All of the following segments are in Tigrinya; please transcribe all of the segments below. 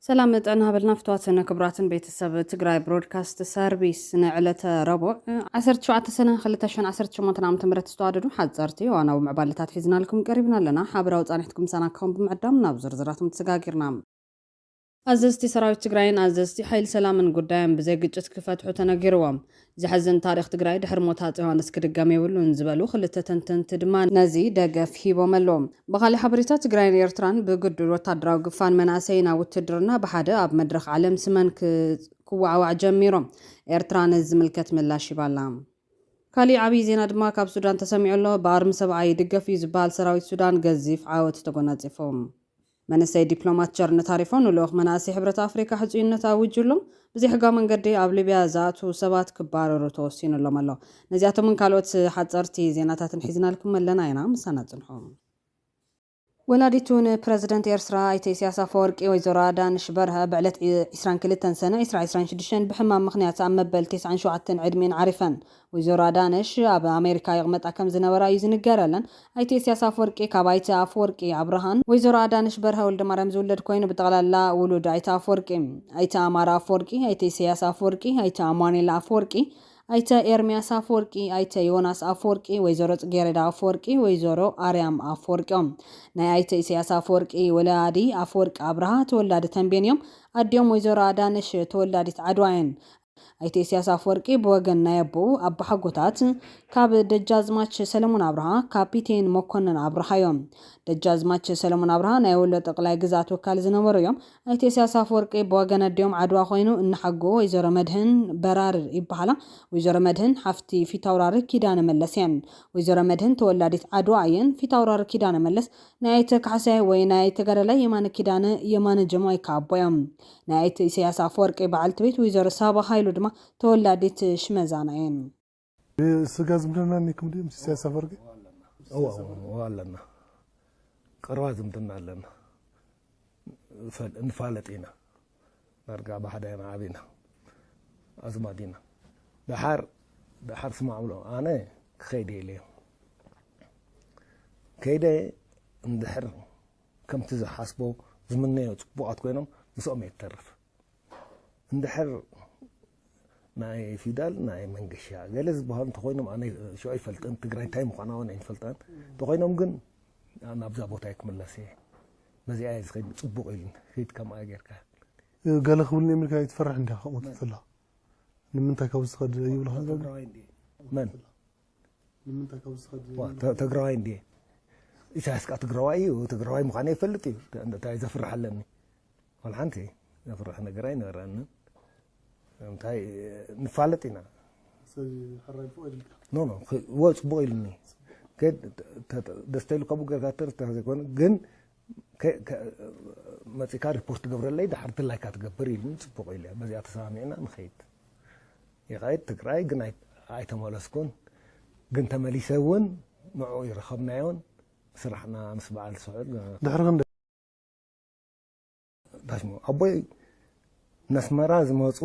ሰላም መጠን ሃበልና ፍትዋትን ክቡራትን ቤተሰብ ትግራይ ብሮድካስት ሰርቪስ ንዕለተ ረቡዕ 17 ሰነ 218 ዓ ም ዝተዋደዱ ሓፀርቲ ዋናዊ ምዕባለታት ሒዝናልኩም ቀሪብና ኣለና ሓበራዊ ፃኒሕትኩም ምሳና ክኸውን ብምዕዳም ናብ ዝርዝራቶም ተሰጋጊርና ኣዘዝቲ ሰራዊት ትግራይን ኣዘዝቲ ሓይሊ ሰላምን ጉዳዮም ብዘይ ግጭት ክፈትሑ ተነጊርዎም። ዘሕዝን ታሪኽ ትግራይ ድሕሪ ሞት ሃፄ ዮሃንስ ክድገም የብሉን ዝበሉ ክልተ ተንተንቲ ድማ ነዚ ደገፍ ሂቦም ኣለው። ብኻሊእ ሓበሬታ ትግራይን ኤርትራን ብግዱድ ወታደራዊ ግፋን መናእሰይን ኣብ ውትድርና ብሓደ ኣብ መድረኽ ዓለም ስመን ክወዓዋዕ ጀሚሮም። ኤርትራ ነዚ ዝምልከት ምላሽ ሂባ ኣላ። ካሊእ ዓብይ ዜና ድማ ካብ ሱዳን ተሰሚዑ ኣሎ። ብኣርሚ ሰብዓ ይድገፍ እዩ ዝበሃል ሰራዊት ሱዳን ገዚፍ ዓወት ተጎናፂፉ። መንእሰይ ዲፕሎማት ቸርነት ሃሪፎ ንልኡኽ መናእሰይ ሕብረት ኣፍሪካ ሕፁይነት ኣዊጁሎም ብዘይሕጋዊ መንገዲ ኣብ ሊብያ ዝኣትዉ ሰባት ክባረሩ ተወሲኑሎም ኣሎ። ነዚኣቶምን ካልኦት ሓፀርቲ ዜናታትን ሒዝናልኩም ኣለና ኢና ምሳና ፅንሑ። ወላዲቱ ንፕረዚደንት ኤርትራ ኣይተ ኢሳያስ ኣፈወርቂ ወይዘሮ ኣዳንሽ በርሀ ብዕለት ዒስራን ክልተን ሰነ ዒስራ ዒስራን ሽዱሽተን ብሕማም ምኽንያት ኣብ መበል ተስዓን ሸውዓተን ዕድሚኤን ዓሪፈን። ወይዘሮ ኣዳነሽ ኣብ ኣሜሪካ ይቕመጣ ከም ዝነበራ እዩ ዝንገረለን። ኣይተ ኢሰያስ ኣፍወርቂ ካብ ኣይተ ኣፍወርቂ ኣብርሃን ወይዘሮ ኣዳነሽ በርሀ ወልደማርያም ዝውለድ ኮይኑ ብጠቕላላ ውሉድ ኣይተ ኣፍወርቂ እዩ። ኣይተ ኣማረ ኣፍወርቂ፣ ኣይተ ኢሰያስ ኣፍወርቂ፣ ኣይተ ኣማኑኤል ኣፍወርቂ፣ ኣይተ ኤርምያስ ኣፍወርቂ፣ ኣይተ ዮናስ ኣፍወርቂ፣ ወይዘሮ ጽጌሬዳ ኣፍወርቂ፣ ወይዘሮ ኣርያም ኣፍወርቂ እዮም። ናይ ኣይተ ኢሰያስ ኣፍወርቂ ወላዲ ኣፍወርቂ ኣብርሃ ተወላዲ ተምቤን እዮም። ኣዲኦም ወይዘሮ ኣዳነሽ ተወላዲት ዓድዋ እየን። ኣይተ ኢሳያስ ኣፈወርቂ ብወገን ናይ ኣቦኡ ኣቦሓጎታት ካብ ደጃዝማች ሰለሙን ኣብርሃ፣ ካፒቴን መኮነን ኣብርሃ፣ ዮም። ደጃዝማች ሰለሙን ኣብርሃ ናይ ወሎ ጠቅላይ ግዝኣት ወካሊ ዝነበሩ ዮም። ኣይተ ኢሳያስ ኣፈወርቂ ብወገን ኣዲኦም ዓድዋ ኮይኑ እንሓጎ ወይዘሮ መድህን በራርር ይበሃላ። ወይዘሮ መድህን ሓፍቲ ፊታውራሪ ኪዳነ መለስ የን። ወይዘሮ መድህን ተወላዲት ዓድዋ ኣየን። ፊታውራሪ ኪዳነ መለስ ናይ ኣይተ ካሕሳይ ወይ ናይ ተጋዳላይ የማነ ኪዳነ፣ የማነ ጀማይካ፣ ኣቦ ዮም። ናይ ኣይተ ኢሰያስ ኣፈወርቂ በዓልቲ ቤት ወይዘሮ ሳባ ሃይሉ ድማ ተወላዲት ሽመዛና እየን። ብስጋ ዝምድና ኔኩም ድዩ ምስ ኢሰያስ ኣፈወርቂ? እወ ኣለና ቀረባ ዝምድና ኣለና ንፋለጥ ኢና ዳርጋ ብሓደ ኢና ዓቢና ኣዝማድ ኢና ደሓር ደሓር ስማዕ ብሎ ኣነ ክኸይድ እየ ኢለዮ ከይደ እንድሕር ከምቲ ዝሓስቦ ዝምነዮ ጽቡቃት ኮይኖም ምስኦም እየ ትተርፍ እንድሕር ናይ ፊዳል ናይ መንገሻ ገለ ዝበሃሉ እንተኮይኖም ኣነ ሸ ኣይፈልጥን ትግራይ እንታይ ምዃና ውን ኣይንፈልጣን እንተኮይኖም ግን ናብዛ ቦታ እየ ክምለስ እየ በዚኣ እየ ዝኸይድ ጽቡቅ ኢሉ ሂድ ከምኣ ጌርካ ገለ ክብልኒ እዮም ኢልካ ይትፈርሕ እንዲኻ ከምኡ ትብላ ንምንታይ ካብ ዝኸድ ይብልኻ መን ንምንታይ ካብ ዝኸድ ዋ፣ ዘይብሉ ተ- ትግራዋይ እንድየ ኢሳያስ ከዓ ትግራዋይ እዩ ትግራዋይ ምዃነ ይፈልጥ እዩ ተ- እንታይ ዘፍርሕ ኣለኒ ወላ ሓንቲ ዘፍርሕ ነገር ኣይነበረንን እንታይ ንፋለጥ ኢና ሰብ ሕራይ ፎቅ ኢልካ ኖ ኖ ክ- ወ ጽቡቅ ኢሉኒ ግን ተ- ተ- ደስታ ኢሉ ካብኡ ገርጋተር ተዘይኮነ ግን መጺእካ ሪፖርት ግብረለይ ድሓር እቲ ላይካ ትገብር ኢሉኒ ጽቡቅ ኢለ በዚኣ ተሰማሚዕና ንከይድ ይከይድ ትግራይ ግን ኣይተመለስኩን ግን ተመሊሰ ውን ንዕኡ ይረከብናዮን ስራሕና ምስ በዓል ስዑል ድሕሪ ክንደይ በስመ ኣብ ኣቦይ ነስመራ ዝመፁ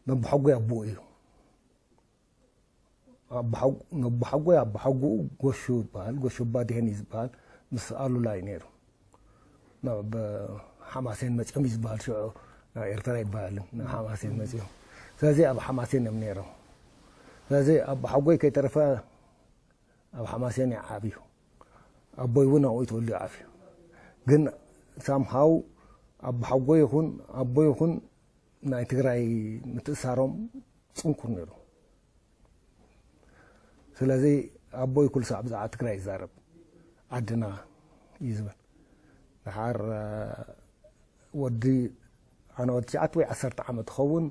ነቦሓጎይ ኣቦኡ እዩ ነቦሓጎይ ኣቦሓጎኡ ጎሹ ይበሃል ጎሹ ባድሄን እዩ ዝበሃል ምስ ኣሉላ እዩ ነይሩ ናብ ሓማሴን መፅኦም እዩ ዝበሃል ሽዑ ናብ ኤርትራ ይበሃልን ናብ ሓማሴን መፅኦም ስለዚ ኣብ ሓማሴን እዮም ነይሮም ስለዚ ኣቦሓጎይ ከይተረፈ ኣብ ሓማሴን እዩ ዓብዩ ኣቦይ እውን ኣብኡ ተወሊዑ ዓብዩ ግን ሳም ሃው ኣቦሓጎ ይኹን ኣቦ ይኹን ናይ ትግራይ ምትእሳሮም ፅንኩር ነይሩ ስለዚ ኣቦይ ኩሉ ሳዕ ብዛዕባ ትግራይ ይዛረብ ዓድና እዩ ዝብል ድሓር ወዲ ኣነ ወዲ ትሽዓተ ወይ ዓሰርተ ዓመት ትኸውን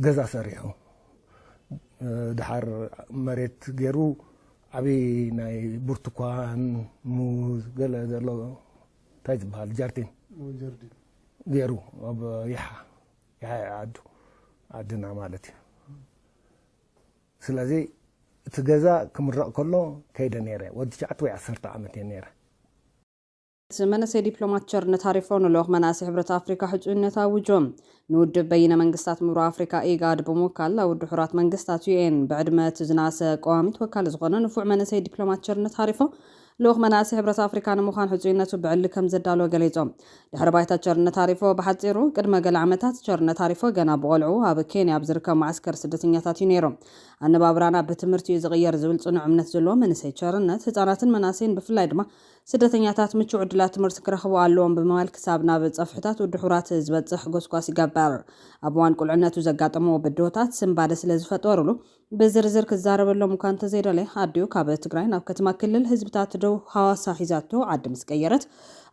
ገዛ ሰሪሑ ድሓር መሬት ጌሩ ዓብዪ ናይ ብርቱኳን ሙዝ ገለ ዘሎ እንታይ ዝበሃል ጃርዲን ጌሩ ኣብ ይሓ ይሓ ዓዱ ዓድና ማለት እዩ ስለዚ እቲ ገዛ ክምረቕ ከሎ ከይደ ነይረ ወዲ ትሽዓተ ወይ ዓሰርተ ዓመት እየ ነይረ እቲ መንእሰይ ዲፕሎማት ቸርነት ሃሪፎ ንልኡኽ መናእሰይ ሕብረት ኣፍሪካ ሕፁይነት ኣዊጁ። ንውድብ በይነ መንግስታት ምብራቕ ኣፍሪካ፣ ኢጋድ፣ ብምውካል ናብ ውድብ ሕቡራት መንግስታት፣ UN፣ ብዕድመ እቲ ዝነኣሰ ቀዋሚ ተወካሊ ዝኾነ ንፉዕ መንእሰይ ዲፕሎማት ቸርነት ሃሪፎ ልኡኽ መናእሰይ ሕብረት ኣፍሪካ ንምዃን ሕፁይነቱ ብዕሊ ከምዘዳለወ ገሊፁ። ድሕሪ ባይታ ቸርነት ሃሪፎ ብሓፂሩ፣ ቅድመ ገለ ዓመታት ቸርነት ሃሪፎ ገና ብቖልዕኡ ኣብ ኬንያ ኣብ ዝርከብ መዓስከር ስደተኛታት እዩ ነይሩ። ኣነባብራና ብትምህርቲ እዩ ዝቕየር ዝብል ፅኑዕ እምነት ዘለዎ መንእሰይ ቸርነት፣ ህፃናትን መናእሰይን ብፍላይ ድማ ስደተኛታት ምቹው ዕድላት ትምህርቲ ክረኽቡ ኣለዎም ብምባል ክሳብ ናብ ፀፍሕታት ውድሑራት ዝበፅሕ ጎስጓስ ይገብር። ኣብ እዋን ቁልዕነቱ ዘጋጠምዎ ብድሆታት ስንባደ ስለ ዝፈጠሩሉ ብዝርዝር ክዛረበሎም እኳ እንተዘይደለየ ኣዲኡ ካብ ትግራይ ናብ ከተማ ክልል ህዝብታት ደቡብ ሃዋሳ ሒዛቶ ዓዲ ምስ ቀየረት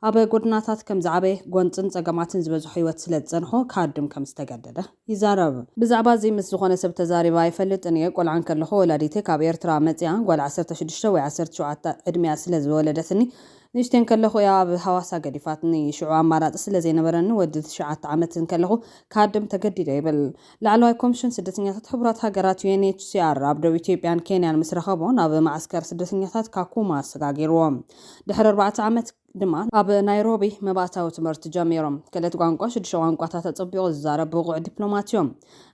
ኣብ ጎድናታት ከም ዝዓበየ ጎንፅን ፀገማትን ዝበዝሖ ህይወት ስለ ዝፀንሖ ክሃድም ከም ዝተገደደ ይዛረብ። ብዛዕባ'ዚ ምስ ዝኾነ ሰብ ተዛሪበ ኣይፈልጥን እየ። ቆልዓ እንከለኹ ወላዲተይ ካብ ኤርትራ መጺኣ ጓል ዓሰርተ ሽዱሽተ ወይ ዓሰርተ ሸውዓተ ዕድሚኣ ስለ ዝወለደትኒ ንእሽተይ እንከለኹ እያ ኣብ ሃዋሳ ገዲፋትኒ። ሽዑ ኣማራጺ ስለ ዘይነበረኒ ወዲ ትሽዓተ ዓመት እንከለኹ ክሃድም ተገዲደ ይብል። ላዕለዋይ ኮምሽን ስደተኛታት ሕቡራት ሃገራት፣ UNHCR፣ ኣብ ዶብ ኢትዮጵያን ኬንያን ምስ ረኸቦ ናብ መዓስከር ስደተኛታት ካኩማ ኣሰጋጊርዎ። ድሕሪ ኣርባዕተ ዓመት። ድማ ኣብ ናይሮቢ መባእታዊ ትምህርቲ ጀሚሮም። ክእለት ቋንቋ ሽዱሽተ ቋንቋታት ኣጸቢቑ ዝዛረብ ብቑዕ ዲፕሎማት እዮም።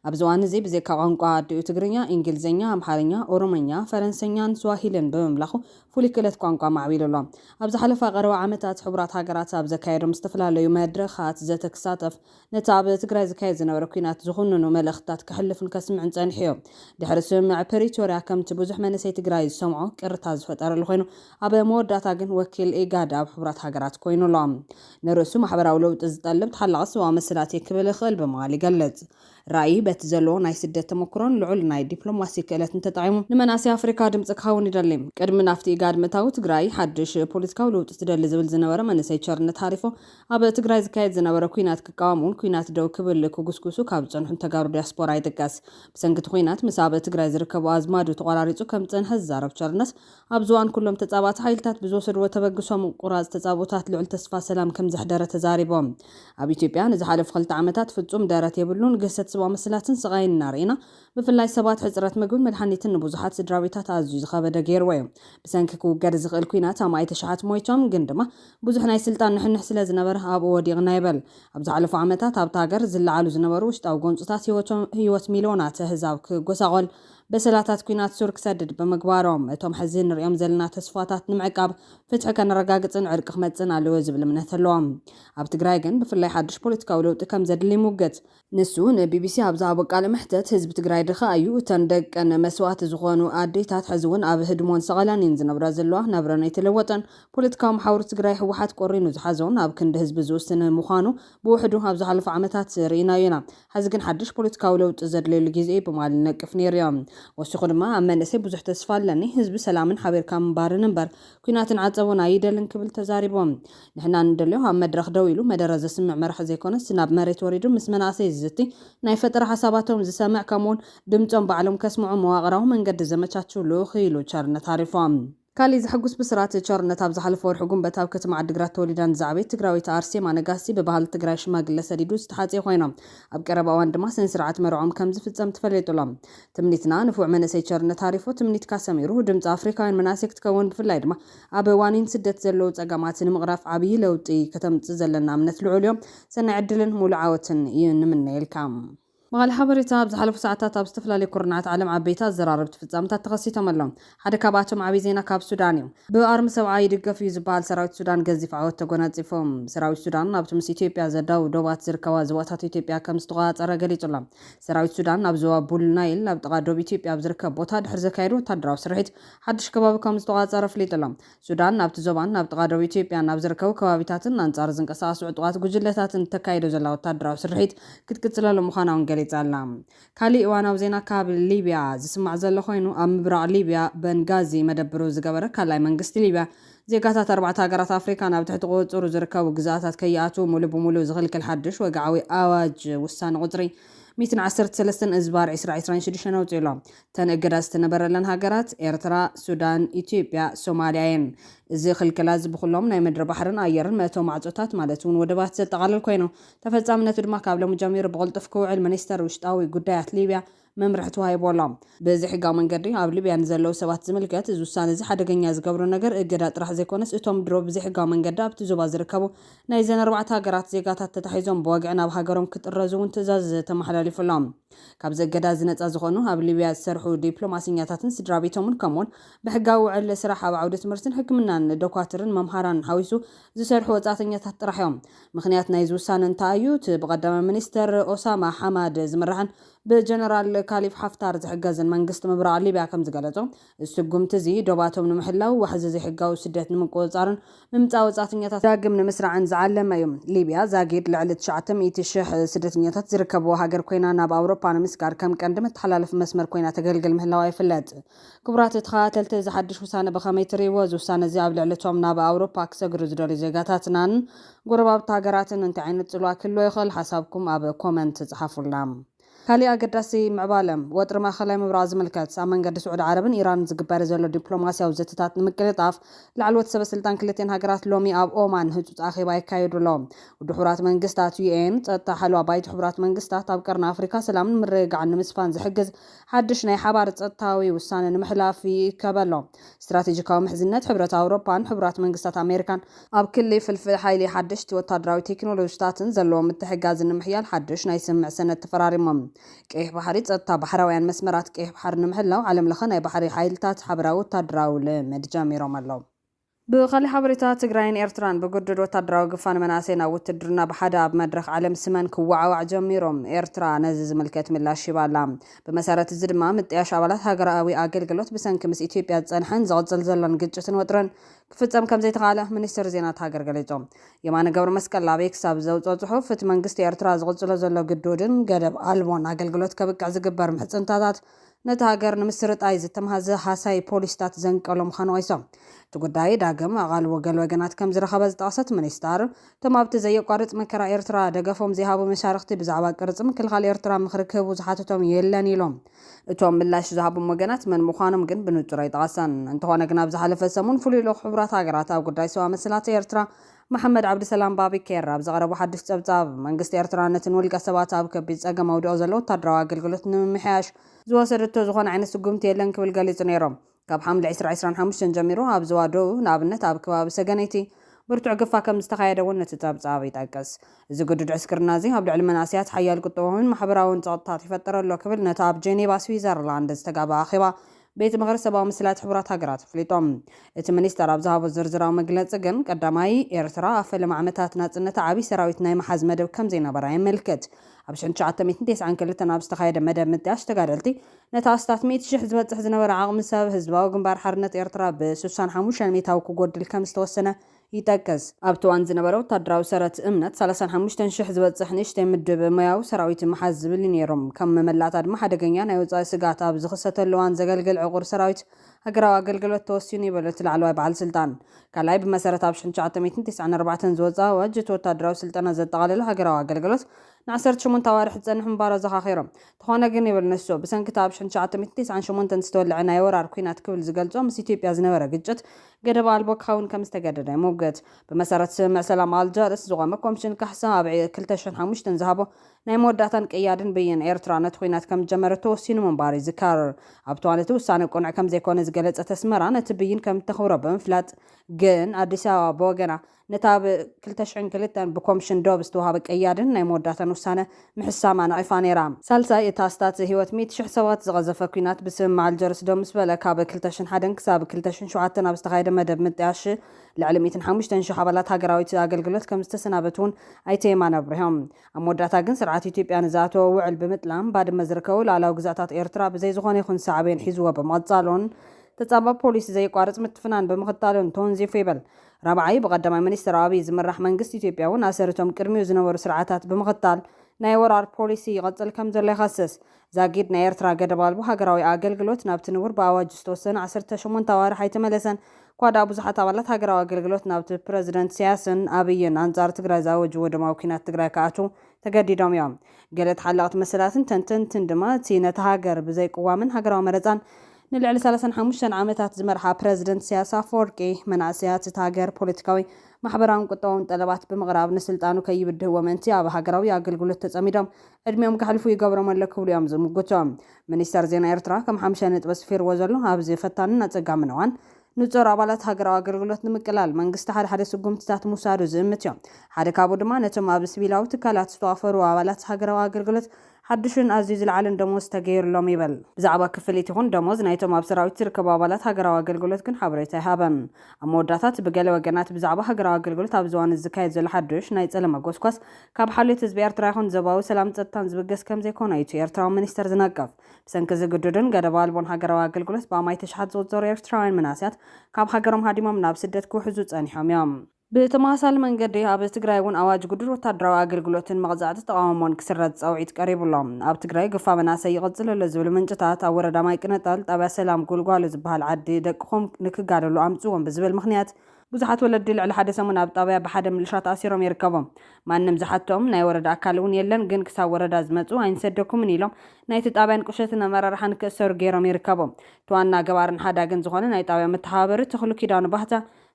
ኣብዚ እዋን'ዚ ብዘይካ ቋንቋ ኣዲኡ ትግርኛ፣ ኢንግሊዘኛ፣ ኣምሓርኛ፣ ኦሮሞኛ፣ ፈረንሰኛን ስዋሂልን ብምምላኹ ፍሉይ ክእለት ቋንቋ ኣማዕቢሉ ኣሎ። ኣብ ዝሓለፋ ቀረባ ዓመታት ሕቡራት ሃገራት ኣብ ዘካየዶም ዝተፈላለዩ መድረኻት ዘተ ክሳተፍ ነቲ ኣብ ትግራይ ዝካየድ ዝነበረ ኲናት ዝኹንኑ መልእኽትታት ከሕልፉን ከስምዑን ጸኒሑዮ። ድሕሪ ስምምዕ ፕሪቶርያ ከምቲ ብዙሕ መንእሰይ ትግራይ ዝሰምዖ ቅርታ ዝፈጠረሉ ኮይኑ ኣብ መወዳእታ ግን ወኪል ኢጋድ ኣብ ሕቡራት ሃገራት ኮይኑ ኣሎ። ንርእሱ ማሕበራዊ ለውጢ ዝጠልብ ተሓላቒ ሰብኣዊ መሰላትየ ክብል እኽእል ብምባል ይገልጽ። ራኢ በቲ ዘለዎ ናይ ስደት ተመኩሮን ልዑል ናይ ዲፕሎማሲ ክእለትን ተጠቒሙ ንመናእሰይ ኣፍሪካ ድምጺ ክኸውን ይደሊ። ቅድሚ ናብቲ ኢጋድ ምእታዉ ትግራይ ሓድሽ ፖለቲካዊ ልውጢ ትደሊ ዝብል ዝነበረ መንእሰይ ቸርነት ሃሪፎ ኣብ ትግራይ ዝካየድ ዝነበረ ኲናት ክቃወሙን ኲናት ደው ክብል ክጉስጉሱ ካብ ዝጸንሑን ተጋሩ ዲያስፖራ ይጥቀስ። ብሰንኪ እቲ ኲናት ምስ ኣብ ትግራይ ዝርከቡ ኣዝማዱ ተቖራሪጹ ከም ዝጸንሐ ዝዛረብ ቸርነት፣ ኣብዚ እዋን ኩሎም ተጻባእቲ ሓይልታት ብዝወሰድዎ ተበግሶ ምቁራጽ ተጻብኦታት ልዑል ተስፋ ሰላም ከም ዘሕደረ ተዛሪቡ። ኣብ ኢትዮጵያ ንዝሓለፉ ክልተ ዓመታት ፍጹም ደረት የብሉን ግህሰት ሰብኣዊ መሰላትን ስቓይን እናርኤና ብፍላይ ሰባት ሕጽረት ምግብን መድሓኒትን ንብዙሓት ስድራቤታት ኣዝዩ ዝኸበደ ገይርዎ እዩ። ብሰንኪ ክውገድ ዝኽእል ኲናት ኣማኢት ኣሽሓት ሞይቶም ግን ድማ ብዙሕ ናይ ስልጣን ንሕንሕ ስለ ዝነበረ ኣብኡ ወዲቕና ይበል። ኣብ ዝሓለፉ ዓመታት ኣብታ ሃገር ዝለዓሉ ዝነበሩ ውሽጣዊ ጎንፅታት ህይወት ሚልዮናት ኣህዛብ ክጎሳቖል፣ በሰላታት ኲናት ሱር ክሰድድ ብምግባሮም፣ እቶም ሕዚ ንርእዮም ዘለና ተስፋታት ንምዕቃብ፣ ፍትሒ ከነረጋግፅን ዕርቂ ክመፅእን ኣለዎ ዝብል እምነት ኣለዎም። ኣብ ትግራይ ግን ብፍላይ ሓዱሽ ፖለቲካዊ ለውጢ ከም ዘድሊ ይሙግት። ንሱ ንቢቢሲ ኣብ ዝሃቦ ቃለ መሕተት፣ ህዝቢ ትግራይ ድኻ እዩ፣ እተን ደቀን መስዋእቲ ዝኾኑ ኣዴታት ሕዚ እውን ኣብ ህድሞን ሰቐላን እየን ዝነብራ ዘለዋ፣ ናብረን ኣይተለወጠን፣ ፖለቲካዊ መሓውር ትግራይ ህወሓት ቆሪኑ ዝሓዞን ኣብ ክንዲ ህዝቢ ዝውስንን ምዃኑ ብውሕዱ ኣብ ዝሓለፉ ዓመታት ርኢናዮ ኢና፣ ሕዚ ግን ሓድሽ ፖለቲካዊ ለውጢ ዘድልየሉ ግዜ እዩ ብምባል ይነቅፍ ነይሩ እዩ። ወሲኹ ድማ ኣብ መንእሰይ ብዙሕ ተስፋ ኣለኒ፣ ህዝቢ ሰላምን ሓቢርካ ምንባርን እምበር ኲናትን ዓጸቦን ኣይደልን ክብል ተዛሪቦም። ንሕና ንደልዮ ኣብ መድረኽ ደው ኢሉ መደረ ዘስምዕ መራሒ ዘይኮነስ ናብ መሬት ወሪዱ ምስ መናእሰይ ዝዝቲ፣ ናይ ፈጠራ ሓሳባቶም ዝሰምዕ ከምኡ'ውን ድምጾም ባዕሎም ከስምዑ መዋቕራዊ መንገዲ ዘመቻችው ልኡኽ ኢሉ ቸርነት ኣሪፎም። ካሊእ ዘሕጉስ ብስራት፣ ቸርነት ኣብ ዝሓለፈ ወርሒ ጉንበት ኣብ ከተማ ዓዲግራት ተወሊዳን ዝዓበየት ትግራወይቲ ኣርሴማ ነጋሲ ብባህሊ ትግራይ ሽማግለ ሰዲዱ ዝተሓጽየ ኮይኖም ኣብ ቀረባ እዋን ድማ ስነስርዓት መርዕኦም ከምዝፍጸም ተፈሌጡሎም ትምኒትና ንፉዕ መንእሰይ ቸርነት ሃሪፎ ትምኒትካ ሰሚሩ ድምጺ ኣፍሪካውያን መናእሰይ ክትከውን ብፍላይ ድማ ኣብ ዋኒን ስደት ዘለዉ ጸገማት ንምቕራፍ ዓብይ ለውጢ ከተምጽእ ዘለና እምነት ልዑል እዮ ሰናይ ዕድልን ሙሉእ ዓወትን እዩ ንምነየልካ። በዓል ሓበሬታ፣ ኣብ ዝሓለፉ ሰዓታት ኣብ ዝተፈላለዩ ኩርንዓት ዓለም ዓበይቲ ኣዘራረብቲ ፍጻመታት ተኸሲቶም ኣለው። ሓደ ካብኣቶም ዓብይ ዜና ካብ ሱዳን እዩ። ብኣርሚ ሰብዓ ይድገፍ እዩ ዝበሃል ሰራዊት ሱዳን ገዚፍ ዓወት ተጎናፂፉ። ሰራዊት ሱዳን ኣብቲ ምስ ኢትዮጵያ ዘዳውብ ዶባት ዝርከባ ዞባታት ኢትዮጵያ ከምዝተቖፃፀረ ገሊፁ ኣሎ። ሰራዊት ሱዳን ኣብ ዞባ ቡል ናይል ኣብ ጥቓ ዶብ ኢትዮጵያ ኣብ ዝርከብ ቦታ ድሕሪ ዘካየዶ ወታደራዊ ስርሒት ሓዱሽ ከባቢ ከምዝተቖፃፀረ ኣፍሊጡ ኣሎ። ሱዳን ናብቲ ዞባን ናብ ጥቓ ዶብ ኢትዮጵያን ኣብ ዝርከቡ ከባቢታትን ኣንፃር ዝንቀሳቐሱ ዕጡቓት ጉጅለታትን እተካይዶ ዘላ ወታደራዊ ስርሒት ክትቅፅለሉ ምዃና እውን ገሊፃ ኣላ። ካሊእ እዋናዊ ዜና ካብ ሊብያ ዝስማዕ ዘሎ ኮይኑ፣ ኣብ ምብራቕ ሊብያ በንጋዚ መደብሩ ዝገበረ ካልኣይ መንግስቲ ሊብያ፣ ዜጋታት ኣርባዕተ ሃገራት ኣፍሪካ ናብ ትሕቲ ቁፅፅሩ ዝርከቡ ግዝኣታት ከይኣትዉ ሙሉእ ብሙሉእ ዝኽልክል ሓዱሽ ወግዓዊ ኣዋጅ ውሳነ ቁፅሪ ሚእትን ዓሰርተ ሰለስተን እዝባር ዒስራ ዒስራን ሽዱሽተን ኣውፂኡ ኣሎ። እተን እገዳ ዝተነበረለን ሃገራት ኤርትራ፣ ሱዳን፣ ኢትዮጵያ፣ ሶማሊያ እየን። እዚ ክልከላ እዚ ብኹሎም ናይ ምድሪ ባሕርን ኣየርን መእተዊ ማዕፆታት ማለት እውን ወደባት ዘጠቓልል ኮይኑ ተፈጻምነቱ ድማ ካብ ሎሚ ጀሚሩ ብቕልጡፍ ክውዕል ሚኒስተር ውሽጣዊ ጉዳያት ሊብያ መምርሒ ተዋሂቡ ኣሎ። ብዘይሕጋዊ መንገዲ ኣብ ሊብያ ንዘለዉ ሰባት ዝምልከት እዚ ውሳነ'ዚ ሓደገኛ ዝገብሮ ነገር፣ እገዳ ጥራሕ ዘይኮነስ እቶም ድሮ ብዘይሕጋዊ መንገዲ ኣብቲ ዞባ ዝርከቡ ናይዘን ኣርባዕተ ሃገራት ዜጋታት ተታሒዞም ብወግዒ ናብ ሃገሮም ክጥረዙ'ውን ትእዛዝ ተመሓላሊፉሎም። ካብዚ እገዳ'ዚ ነጻ ዝኾኑ ኣብ ሊብያ ዝሰርሑ ዲፕሎማሰኛታትን ስድራቤቶምን ከምኡ'ውን ብሕጋዊ ውዕል ስራሕ ኣብ ዓውዲ ትምህርትን ሕክምናን፣ ዶኳትርን መምሃራንን ሓዊሱ ዝሰርሑ ወጻእተኛታት ጥራሕ'ዮም። ምኽንያት ናይዚ ውሳነ እንታይ እዩ? እቲ ብቀዳማይ ሚኒስተር ኦሳማ ሓማድ ዝምራሕን ብጀነራል ካሊፍ ሓፍታር ዝሕገዝን መንግስቲ ምብራቕ ሊብያ ከምዝገለጾ፣ እዚ ስጉምቲ እዚ ዶባቶም ንምሕላው፣ ዋሕዚ ዘይሕጋዊ ስደት ንምቁጽጻርን ምምጻእ ወጻእተኛታት ዳግም ንምስራዕን ዝዓለመ እዩ። ሊብያ ዛጊድ ልዕሊ ትሽዓተ ሚእቲ ሽሕ ስደተኛታት ዝርከብዋ ሃገር ኮይና፣ ናብ ኣውሮጳ ንምስጋር ከም ቀንዲ መተሓላለፊ መስመር ኮይና ተገልግል ምህላዋ ይፍለጥ። ክቡራት ተኸታተልቲ እዚ ሓድሽ ውሳነ ብኸመይ ትርእይዎ? እዚ ውሳነ እዚ ኣብ ልዕሊ እቶም ናብ ኣውሮፓ ክሰግሩ ዝደልዩ ዜጋታትናን ጎረባብቲ ሃገራትን እንታይ ዓይነት ጽልዋ ክህልዎ ይኽእል? ሓሳብኩም ኣብ ኮመንት ጽሓፉልና። ካሊእ ኣገዳሲ ምዕባለ፣ ወጥሪ ማእኸላይ ምብራቕ ዝምልከት፣ ኣብ መንገዲ ስዑዲ ዓረብን ኢራንን ዝግበር ዘሎ ዲፕሎማሲያዊ ዘተታት ንምቅልጣፍ፣ ላዕለዎት ሰበ ስልጣን ክልቲኤን ሃገራት ሎሚ ኣብ ኦማን ህጹጽ ኣኼባ የካይዱ ኣለው። ውድብ ሕቡራት መንግስታት፣ UN፣ ጸጥታ ሓለዋ ባይቶ ሕቡራት መንግስታት፣ ኣብ ቀርኒ ኣፍሪካ ሰላምን ምርግጋዕን ንምስፋን ዝሕግዝ ሓድሽ ናይ ሓባር ጸጥታዊ ውሳነ ንምሕላፍ ይእከብ ኣሎ። ስትራቴጂካዊ ምሕዝነት ሕብረት ኣውሮፓን ሕቡራት መንግስታት ኣሜሪካን፣ ኣብ ክሊ ፍልፍል ሓይሊ፣ ሓደሽቲ ወተሃደራዊ ቴክኖሎጂታትን ዘለዎም ምትሕግጋዝን ንምሕያል ሓድሽ ናይ ስምምዕ ሰነድ ተፈራሪሞም። ቀይሕ ባሕሪ፣ ጸጥታ ባሕራውያን መስመራት ቀይሕ ባሕሪ ንምሕላው ዓለምለኸ ናይ ባሕሪ ሓይልታት ሓበራዊ ወተሃደራዊ ልምምድ ጀሚሮም ኣለዉ። ብኻሊእ ሓበሬታ ትግራይን ኤርትራን ብግዱድ ወታደራዊ ግፋን መናእሰይ ናብ ውትድርና ብሓደ ኣብ መድረኽ ዓለም ስመን ክወዓዋዕ ጀሚሩ። ኤርትራ ነዚ ዝምልከት ምላሽ ሂባ ኣላ። ብመሰረት እዚ ድማ ምጥያሽ ኣባላት ሃገራኣዊ ኣገልግሎት ብሰንኪ ምስ ኢትዮጵያ ዝጸንሐን ዝቕጽል ዘሎን ግጭትን ወጥርን ክፍጸም ከምዘይተኻእለ ሚኒስትሪ ዜና እታ ሃገር ገሊጹ። የማነ ገብረመስቀል ኣብ ኤክስ ኣብ ዘውጽኦ ጽሑፍ እቲ መንግስቲ ኤርትራ ዝቕጽሎ ዘሎ ግዱድን ገደብ ኣልቦን ኣገልግሎት ከብቅዕ ዝግበር ምሕጽንታታት ነታ ሃገር ንምስርጣይ ዝተምሃዘ ሃሳዪ ፖሊሲታት ዘንቀሎ ምዃኑ ወቒሶ። እቲ ጉዳይ ዳግም ኣቓልቦ ገለ ወገናት ከም ዝረኸበ ዝጠቐሰት ሚኒስተር፣ እቶም ኣብቲ ዘየቋርጽ መከራ ኤርትራ ደገፎም ዘይሃቡ መሻርኽቲ ብዛዕባ ቅርጺ ምክልኻል ኤርትራ ምኽሪ ክህቡ ዝሓተቶም የለን ኢሎም። እቶም ምላሽ ዝሃቦም ወገናት መን ምዃኖም ግን ብንጹር ኣይጠቐሰን። እንተኾነ ግን ኣብ ዝሓለፈ ሰሙን ፍሉይ ልኡኽ ሕቡራት ሃገራት ኣብ ጉዳይ ሰብኣዊ መሰላት ኤርትራ መሓመድ ዓብዲሰላም ባቢ ኬር ኣብ ዘቕረቦ ሓዱሽ ጸብጻብ፣ መንግስቲ ኤርትራ ነቲ ንውልቀ ሰባት ኣብ ከቢድ ጸገም ኣውዲቑ ዘሎ ወተሃደራዊ ኣገልግሎት ንምምሕያሽ፣ ዝወሰደቶ ዝኾነ ዓይነት ስጉምቲ የለን ክብል ገሊጹ ነይሮ። ካብ ሓምለ ዕስራ ዕስራን ሓሙሽተን ጀሚሩ ኣብ ዞባ ደቡብ፣ ንኣብነት ኣብ ከባቢ ሰገነይቲ፣ ብርቱዕ ግፋ ከም ዝተኻየደ እውን እቲ ጸብጻብ ይጠቅስ። እዚ ግዱድ ዕስክርና'ዚ ኣብ ልዕሊ መንእሰያት ሓያል ቁጠባዊን ማሕበራዊን ጸቕጥታት ይፈጥር ኣሎ ክብል ነቲ ኣብ ጀኔቫ ስዊዘርላንድ ዝተጋብኣ ኣኼባ ቤት ምኽሪ ሰብኣዊ መሰላት ሕቡራት ሃገራት ኣፍሊጡ። እቲ ሚኒስተር ኣብ ዝሃቦ ዝርዝራዊ መግለጺ ግን፣ ቀዳማይ፣ ኤርትራ ኣብ ፈለማ ዓመታት ናጽነታ ዓቢ ሰራዊት ናይ ምሓዝ መደብ ከም ዘይነበራ የመልክት። ኣብ ሽሕን ትሽዓተ ሚእትን ተስዓን ክልተን ኣብ ዝተኻየደ መደብ ምጥያሽ ተጋደልቲ፣ ነቲ ኣስታት ሚእቲ ሽሕ ዝበጽሕ ዝነበረ ዓቕሚ ሰብ ህዝባዊ ግንባር ሓርነት ኤርትራ ብስሳን ሓሙሻይ ሚእታዊ ክጎድል ከም ዝተወሰነ ይጠቅስ። ኣብቲ እዋን ዝነበረ ወታደራዊ ሰረት እምነት ሰላሳን ሓሙሽተን ሽሕ ዝበጽሕ ንእሽተይ ምድብ ሞያዊ ሰራዊት ምሓዝ ዝብል እዩ ነይሩ። ከም መመላእታ ድማ ሓደገኛ ናይ ወጻኢ ስግኣት ኣብ ዝኽሰተሉ እዋን ዘገልግል ዕቑር ሰራዊት ሃገራዊ ኣገልግሎት ተወሲኑ ይብል እቲ ላዕለዋይ በዓል ስልጣን። ካልኣይ፣ ብመሰረት ኣብ ሽሕን ትሽዓተ ሚእትን ቴስዓን ኣርባዕተን ዝወጽኣ ኣዋጅ፣ እቲ ወታደራዊ ስልጠና ዘጠቓለለ ሃገራዊ ኣገልግሎት ንዓሰርተ ሸሞንተ ኣዋርሕ ዝጸንሕ ምንባሩ ኣዘኻኺሩ። እንተኾነ ግን ይብል ንሱ፣ ብሰንኪ እቲ ኣብ ሽሕን ትሽዓተ ሚእትን ቴስዓን ሸሞንተን ዝተወልዐ ናይ ወራር ኲናት ክብል ዝገልጾ ምስ ኢትዮጵያ ዝነበረ ግጭት ገደብ ኣልቦ ክኸውን ከም ዝተገደደ ይሙግት። ብመሰረት ስምምዕ ሰላም ኣልጀርስ፣ ዝቖመ ኮምሽን ካሕሳ ኣብ ክልተ ሽሕን ሓሙሽተን ዝሃቦ ናይ መወዳእታን ቀያድን ብይን፣ ኤርትራ ነቲ ኲናት ከም ዝጀመረቶ ወሲኑ ምንባሩ ይዝከር። ኣብቲ እዋን እቲ ውሳነ ቅኑዕ ከም ዘይኮነ ዝገለጸት ኣስመራ፣ ነቲ ብይን ከም እተኽብሮ ብምፍላጥ ግን ኣዲስ ኣበባ ብወገና፣ ነታ ብ ክልተ ሽሕን ክልተን ብኮምሽን ዶብ ዝተዋህበ ቀያድን ናይ መወዳእታን ውሳነ ምሕሳማ ነቒፋ ነይራ። ሳልሳይ፣ እቲ ኣስታት ህይወት ሚእቲ ሽሕ ሰባት ዝቐዘፈ ኲናት ብስምምዕ ኣልጀርስ ደው ምስ በለ፣ ካብ ክልተ ሽሕን ሓደን ክሳብ ክልተ ሽሕን ሸውዓተን ኣብ ዝተኻየደ መደብ ምጥያሽ ልዕሊ ሚእትን ሓሙሽተን ሽሕ ኣባላት ሃገራዊት ኣገልግሎት ከም ዝተሰናበቱ'ውን ኣይተ የማነ ኣብሪሆም። ኣብ መወዳእታ ግን ስርዓት ኢትዮጵያ ንዝኣተዎ ውዕል ብምጥላም ባድመ ዝርከቡ ሉኣላዊ ግዝኣታት ኤርትራ ብዘይ ዝኾነ ይኹን ሳዕቤን ሒዝዎ ብምቕጻሉን ተጻባኢ ፖሊሲ ዘየቋርጽ ምትፍናን ብምኽታሉን ተወንዚፉ ይብል ራብዓይ፣ ብቀዳማይ ሚኒስትር ኣብይ ዝምራሕ መንግስቲ ኢትዮጵያ እውን ኣሰር እቶም ቅድሚኡ ዝነበሩ ስርዓታት ብምኽታል ናይ ወራር ፖሊሲ ይቐፅል ከምዘሎ ይኸስስ። ዛጊድ ናይ ኤርትራ ገደብ ኣልቦ ሃገራዊ ኣገልግሎት ናብቲ ንቡር ብኣዋጅ ዝተወሰነ ዓሰርተ ሸሞንተ ኣዋርሕ ኣይተመለሰን እኳ ድኣ ብዙሓት ኣባላት ሃገራዊ ኣገልግሎት ናብቲ ፕረዚደንት ኢሳያስን ኣብይን ኣንፃር ትግራይ ዝኣወጅዎ ደማዊ ኲናት ትግራይ ክኣትው ተገዲዶም እዮም። ገለ ተሓለቕቲ መሰላትን ተንተንትን ድማ እቲ ነታ ሃገር ብዘይ ቅዋምን ሃገራዊ መረጻን ንልዕሊ ሰላሳን ሓሙሽተን ዓመታት ዝመርሓ ፕረዚደንት ኢሳያስ ኣፈወርቂ፣ መናእሰያት እታ ሃገር ፖለቲካዊ፣ ማሕበራውን ቁጠባውን ጠለባት ብምቕራብ ንስልጣኑ ከይብድህዎ ምእንቲ ኣብ ሃገራዊ ኣገልግሎት ተጸሚዶም ዕድሚኦም ከሕልፉ ይገብሮም ኣሎ ክብሉ እዮም ዝምጉቱ። ሚኒስተር ዜና ኤርትራ ከም ሓምሻይ ነጥቢ ኣስፊርዎ ዘሎ ኣብዚ ፈታንን ኣጸጋምን እዋን፣ ንጾር ኣባላት ሃገራዊ ኣገልግሎት ንምቅላል፣ መንግስቲ ሓደ ሓደ ስጉምትታት ምውሳዱ ዝእምትዮ። ሓደ ካብኡ ድማ ነቶም ኣብ ስቪላዊ ትካላት ዝተዋፈሩ ኣባላት ሃገራዊ ኣገልግሎት ሓዱሽን ኣዝዩ ዝለዓለን ደሞዝ ተገይሩሎም ይብል። ብዛዕባ ክፍሊት ይኹን ደሞዝ ናይቶም ኣብ ሰራዊት ዝርከቡ ኣባላት ሃገራዊ ኣገልግሎት ግን ሓበሬታ ኣይሃበን። ኣብ መወዳእታ እቲ ብገለ ወገናት ብዛዕባ ሃገራዊ ኣገልግሎት ኣብዚ እዋን'ዚ ዝካየድ ዘሎ ሓዱሽ ናይ ጸለመ ጎስጓስ ካብ ሓልዮት ህዝቢ ኤርትራ ይኹን ዞባዊ ሰላምን ጸጥታን ዝብገስ ከምዘይኮነ እዩ እቲ ኤርትራዊ ሚኒስተር ዝነቅፍ። ብሰንኪ እዚ ግዱድን ገደብ ኣልቦን ሃገራዊ ኣገልግሎት ብኣማኢት እሽሓት ዝቑጸሩ ኤርትራውያን መናእሰያት ካብ ሃገሮም ሃዲሞም ናብ ስደት ክውሕዙ ጸኒሖም እዮም። ብተመሳሳሊ መንገዲ ኣብ ትግራይ እውን ኣዋጅ ግዱድ ወተሃደራዊ ኣገልግሎትን መቕጻዕቲ ተቓውሞን ክስረዝ ጻውዒት ቀሪቡ ኣሎ። ኣብ ትግራይ ግፋ መናእሰይ ይቕጽል ኣሎ ዝብሉ ምንጭታት፣ ኣብ ወረዳ ማይቅነጣል ጣብያ ሰላም ጉልጓሎ ዝበሃል ዓዲ ደቅኹም ንክጋደሉ ኣምጽዎም ብዝብል ምኽንያት ብዙሓት ወለዲ ልዕሊ ሓደ ሰሙን ኣብ ጣብያ ብሓደ ምልሻ ተኣሲሮም ይርከቡ። ማንም ዝሓተኦም ናይ ወረዳ ኣካል እውን የለን ግን ክሳብ ወረዳ ዝመፅኡ ኣይንሰደኩምን ኢሎም ናይቲ ጣብያን ቁሸትን ኣመራርሓ ንክእሰሩ ገይሮም ይርከቡ። እቲ ዋና ገባርን ሓዳግን ዝኾነ ናይ ጣብያ መተሓባበሪ ተኽሉ ኪዳኑ ባህታ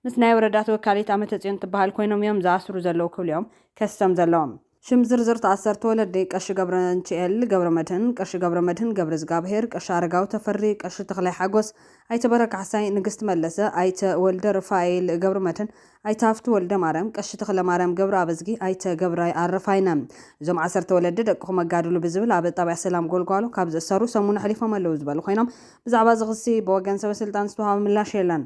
ምስ ናይ ወረዳ ተወካሊት ኣመተፅዮን ትበሃል ኮይኖም እዮም ዝኣስሩ ዘለዉ ክብል'ዮም ከሲሶም ዘለዉ። ሽም ዝርዝር ተኣሰርቲ ወለዲ፣ ቀሺ ገብረንቺኤል ገብረመድህን፣ ቀሺ ገብረመድህን ገብረዝጋብሄር፣ ቀሺ ኣረጋዊ ተፈሪ፣ ቀሺ ተኽላይ ሓጎስ፣ ኣይተ በረ ካሕሳይ፣ ንግስቲ መለሰ፣ ኣይተ ወልደ ርፋኤል ገብረመድህን፣ ኣይተ ሃፍቱ ወልደማርያም፣ ቀሺ ተኽለማርያም ገብረኣብዝጊ፣ ኣይተ ገብራይ ኣረፋይነ። እዞም ዓሰርተ ወለዲ ደቅኹም ኣጋድሉ ብዝብል ኣብ ጣብያ ሰላም ጎልጓሎ ካብ ዝእሰሩ ሰሙን ኣሕሊፎም ኣለዉ ዝበሉ ኮይኖም ብዛዕባ እዚ ክሲ ብወገን ሰበስልጣን ዝተውሃበ ምላሽ የለን።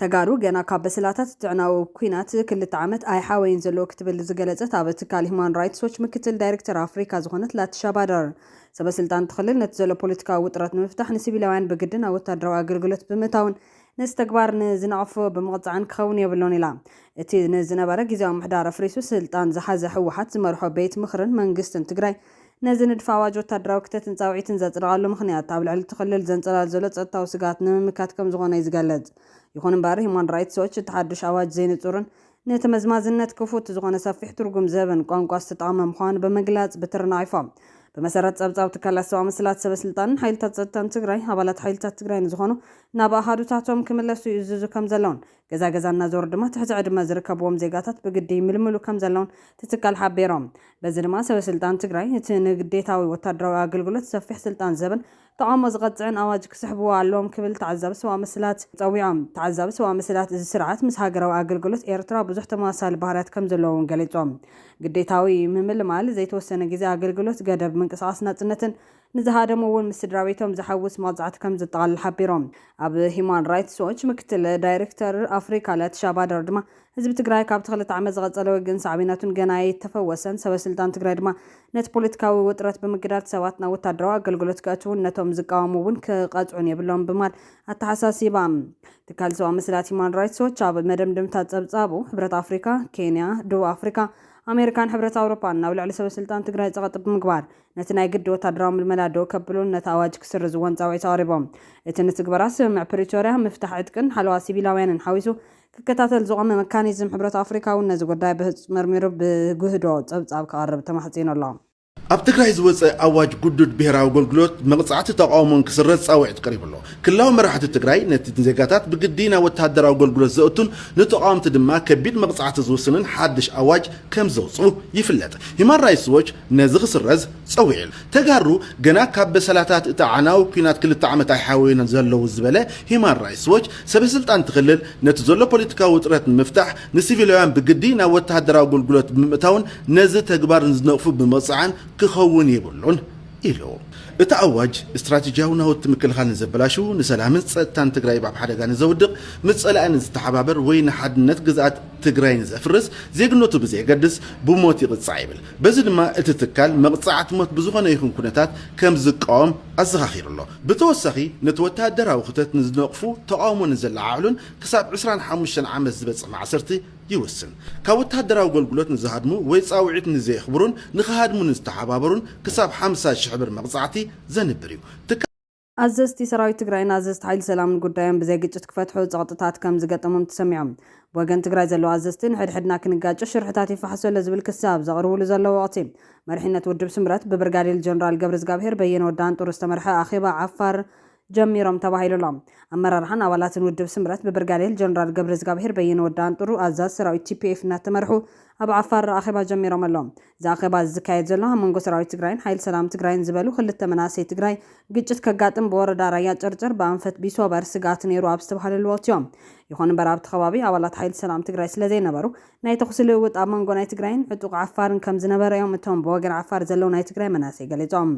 ተጋሩ ገና ካብ በሰላታት እቲ ኣዕናዊ ኲናት ክልተ ዓመት ኣይሓወዩን ዘለዉ ክትብል ዝገለጸት ኣብ ትካል ሂዩማን ራይትስ ዎች ምክትል ዳይርክተር ኣፍሪካ ዝኾነት ላቲሻ ባደር፣ ሰበ ስልጣን እቲ ክልል ነቲ ዘሎ ፖለቲካዊ ውጥረት ንምፍታሕ ንሲቪላውያን ብግዲ ናብ ወታደራዊ ኣገልግሎት ብምእታውን ነዚ ተግባር ንዝነቐፉ ብምቕጻዕን ክኸውን የብሉን ኢላ። እቲ ንዝነበረ ግዝያዊ ምሕዳር ኣፍሪሱ ስልጣን ዝሓዘ ህወሓት ዝመርሖ ቤት ምኽርን መንግስትን ትግራይ፣ ነዚ ንድፊ ኣዋጅ ወታደራዊ ክተትን ጻውዒትን ዘጽደቐሉ ምኽንያት፣ ኣብ ልዕሊ እቲ ክልል ዘንጸላሊ ዘሎ ጸጥታዊ ስግኣት ንምምካት ከምዝኾነ'ዩ ዝገልጽ። ይኹን'ምበር ሂዩማን ራይትስ ዎች፣ እቲ ሓዱሽ ኣዋጅ ዘይንጹርን ንተመዝማዝነት ክፉት ዝኾነ ሰፊሕ ትርጉም ዝህብን ቋንቋ ዝተጠቐመ ምዃኑ ብምግላጽ ብትሪ ነቒፎ። ብመሰረት ጸብጻብ ትካላት ሰብኣዊ መሰላት፣ ሰበስልጣንን ሓይልታት ጸጥታን ትግራይ፣ ኣባላት ሓይልታት ትግራይ ንዝኾኑ ናብ ኣሃዱታቶም ክምለሱ ይእዝዙ ከምዘለውን ገዛ ገዛ እናዞሩ ድማ ትሕቲ ዕድመ ዝርከብዎም ዜጋታት ብግዲ ይምልምሉ ከምዘለውን እቲ ትካል ሓቢሮም። በዚ ድማ ሰበስልጣን ትግራይ እቲ ንግዴታዊ ወታደራዊ ኣገልግሎት ሰፊሕ ስልጣን ዝህብን ተቓውሞ ዝቐፅዕን ኣዋጅ ክስሕብዎ ኣለዎም ክብል ተዓዛቢ ሰብኣዊ መሰላት ፀዊዖም። ተዓዛቢ ሰብኣዊ መሰላት እዚ ስርዓት ምስ ሃገራዊ ኣገልግሎት ኤርትራ ብዙሕ ተመሳሳሊ ባህርያት ከምዘለዎ እውን ገሊፆም። ግዴታዊ ምምልማል፣ ዘይተወሰነ ግዜ ኣገልግሎት፣ ገደብ ምንቅስቓስ ናፅነትን፣ ንዝሃደሙ እውን ምስ ስድራቤቶም ዘሐውስ መቕጻዕቲ ከም ዘጠቓልል ሓቢሮም። ኣብ ሂዩማን ራይትስ ዎች ምክትል ዳይሬክተር ኣፍሪካ ለቲሻ ባደር ድማ ህዝቢ ትግራይ ካብቲ ክልተ ዓመት ዝቐጸለ ውግእን ሳዕቤናቱን ገና ኣይተፈወሰን፣ ሰበስልጣን ትግራይ ድማ ነቲ ፖለቲካዊ ውጥረት ብምግዳድ ሰባት ናብ ወታደራዊ ኣገልግሎት ከእትዉን ነቶም ዝቃወሙ እውን ክቐጽዑን የብሎምን ብማል ኣተሓሳሲባ። ትካል ሰብኣዊ መሰላት ሂዩማን ራይትስ ዎች ኣብ መደምደምታ ጸብጻቡ፣ ሕብረት ኣፍሪካ፣ ኬንያ፣ ደቡብ ኣፍሪካ፣ ኣሜሪካን ሕብረት ኣውሮፓን ናብ ልዕሊ ሰበስልጣን ትግራይ ጸቐጢ ብምግባር ነቲ ናይ ግዲ ወታደራዊ ምልመላ ደው ከብሉን ነቲ ኣዋጅ ክስርዝዎን ጻውዒት ኣቕሪቦም። እቲ ንትግበራ ስምምዕ ፕሪቶርያ፣ ምፍታሕ ዕጥቅን ሓለዋ ሲቪላውያንን ሓዊሱ ክከታተል ዝቖመ መካኒዝም ሕብረት ኣፍሪካ'ውን ነዚ ጉዳይ ብህጹጽ መርሚሩ ብጉህዶ ጸብጻብ ክቐርብ ተማሕጺኑ ኣሎ። ኣብ ትግራይ ዝወጸ ኣዋጅ ግዱድ ብሄራዊ ኣገልግሎት፣ መቕጻዕቲ ተቓውሞን ክስረዝ ጻውዒት ቀሪቡ ኣሎ። ክልላዊ መራሕቲ ትግራይ ነቲ ንዜጋታት ብግዲ ናብ ወተሃደራዊ ኣገልግሎት ዘእቱን ንተቓወምቲ ድማ ከቢድ መቕጻዕቲ ዝውስንን ሓድሽ ኣዋጅ፣ ከም ዘውጽኡ ይፍለጥ። ሂማን ራይትስ ዎች ነዚ ክስረዝ ጸዊዑል። ተጋሩ ገና ካብ በሰላታት እቲ ኣዕናዊ ኩናት ክልተ ዓመት ኣይሓወዩን ዘለዉ ዝበለ ሂማን ራይትስ ዎች፣ ሰበስልጣን እቲ ክልል ነቲ ዘሎ ፖለቲካዊ ውጥረት ንምፍታሕ ንሲቪላውያን ብግዲ ናብ ወተሃደራዊ ኣገልግሎት ብምእታውን ነዚ ተግባር ንዝነቕፉ ብምቕጻዕን ክኸውን የብሉን ኢሉ። እቲ ኣዋጅ ስትራቴጂያዊ ናውቲ ምክልኻል ንዘበላሹ፣ ንሰላምን ፀጥታን ትግራይ ኣብ ሓደጋ ንዘውድቕ፣ ምስ ፀላኢ ንዝተሓባበር ወይ ንሓድነት ግዝኣት ትግራይ ንዘፍርስ ዜግነቱ ብዘየገድስ ብሞት ይቕፃዕ ይብል። በዚ ድማ እቲ ትካል መቕፃዕቲ ሞት ብዝኾነ ይኹን ኩነታት ከምዝቃወም ኣዘኻኺሩ ኣሎ። ብተወሳኺ ነቲ ወታሃደራዊ ክተት ንዝነቕፉ፣ ተቓውሞ ንዘለዓዕሉን ክሳብ ዕስራን ሓሙሽተን ዓመት ዝበፅሕ ማእሰርቲ ይውስን። ካብ ወተሃደራዊ ኣገልግሎት ንዝሃድሙ ወይ ጻውዒት ንዘየኽብሩን ንኽሃድሙ ንዝተሓባበሩን ክሳብ ሓምሳ ሽሕ ብር መቕጻዕቲ ዘንብር እዩ። ትካ። ኣዘዝቲ ሰራዊት ትግራይን ኣዘዝቲ ሓይሊ ሰላምን ጉዳዮም ብዘይ ግጭት ክፈትሑ ጸቕጥታት ከም ዝገጠሞም ተሰሚዖም ብወገን ትግራይ ዘለዉ ኣዘዝቲ ንሕድሕድና ክንጋጮ ሽርሕታት ይፋሕሶለ ዝብል ክሲ ኣብ ዘቕርቡሉ ዘለዉ ወቕቲ መሪሕነት ውድብ ስምረት ብብርጋዴል ጀነራል ገብረዝጋብሄር በየነ ወዲ ኣንጡሩ ዝተመርሐ ኣኼባ ዓፋር ጀሚሮም ተባሂሉ ኣሎ። ኣመራርሓን ኣባላትን ውድብ ስምረት ብብርጋዴር ጀነራል ገብረዝጋብሄር በየነ ወዲ ኣንጥሩ ኣዛዚ ሰራዊት TPF እናተመርሑ ኣብ ዓፋር ኣኼባ ጀሚሮም ኣለው። እዚ ኣኼባ እዚ ዝካየድ ዘሎ ኣብ መንጎ ሰራዊት ትግራይን ሓይል ሰላም ትግራይን ዝበሉ ክልተ መናእሰይ ትግራይ ግጭት ከጋጥም ብወረዳ ራያ ጨርጨር ብኣንፈት ቢሶበር ስግኣት ነይሩ ኣብ ዝተብሃለሉ ወቅቲዮ። ይኹን እምበር ኣብቲ ከባቢ ኣባላት ሓይል ሰላም ትግራይ ስለዘይነበሩ ናይ ተኹሲ ልውውጥ ኣብ መንጎ ናይ ትግራይን ዕጡቕ ዓፋርን ከም ዝነበረ እዮም እቶም ብወገን ዓፋር ዘለዉ ናይ ትግራይ መናእሰይ ገሊጾም።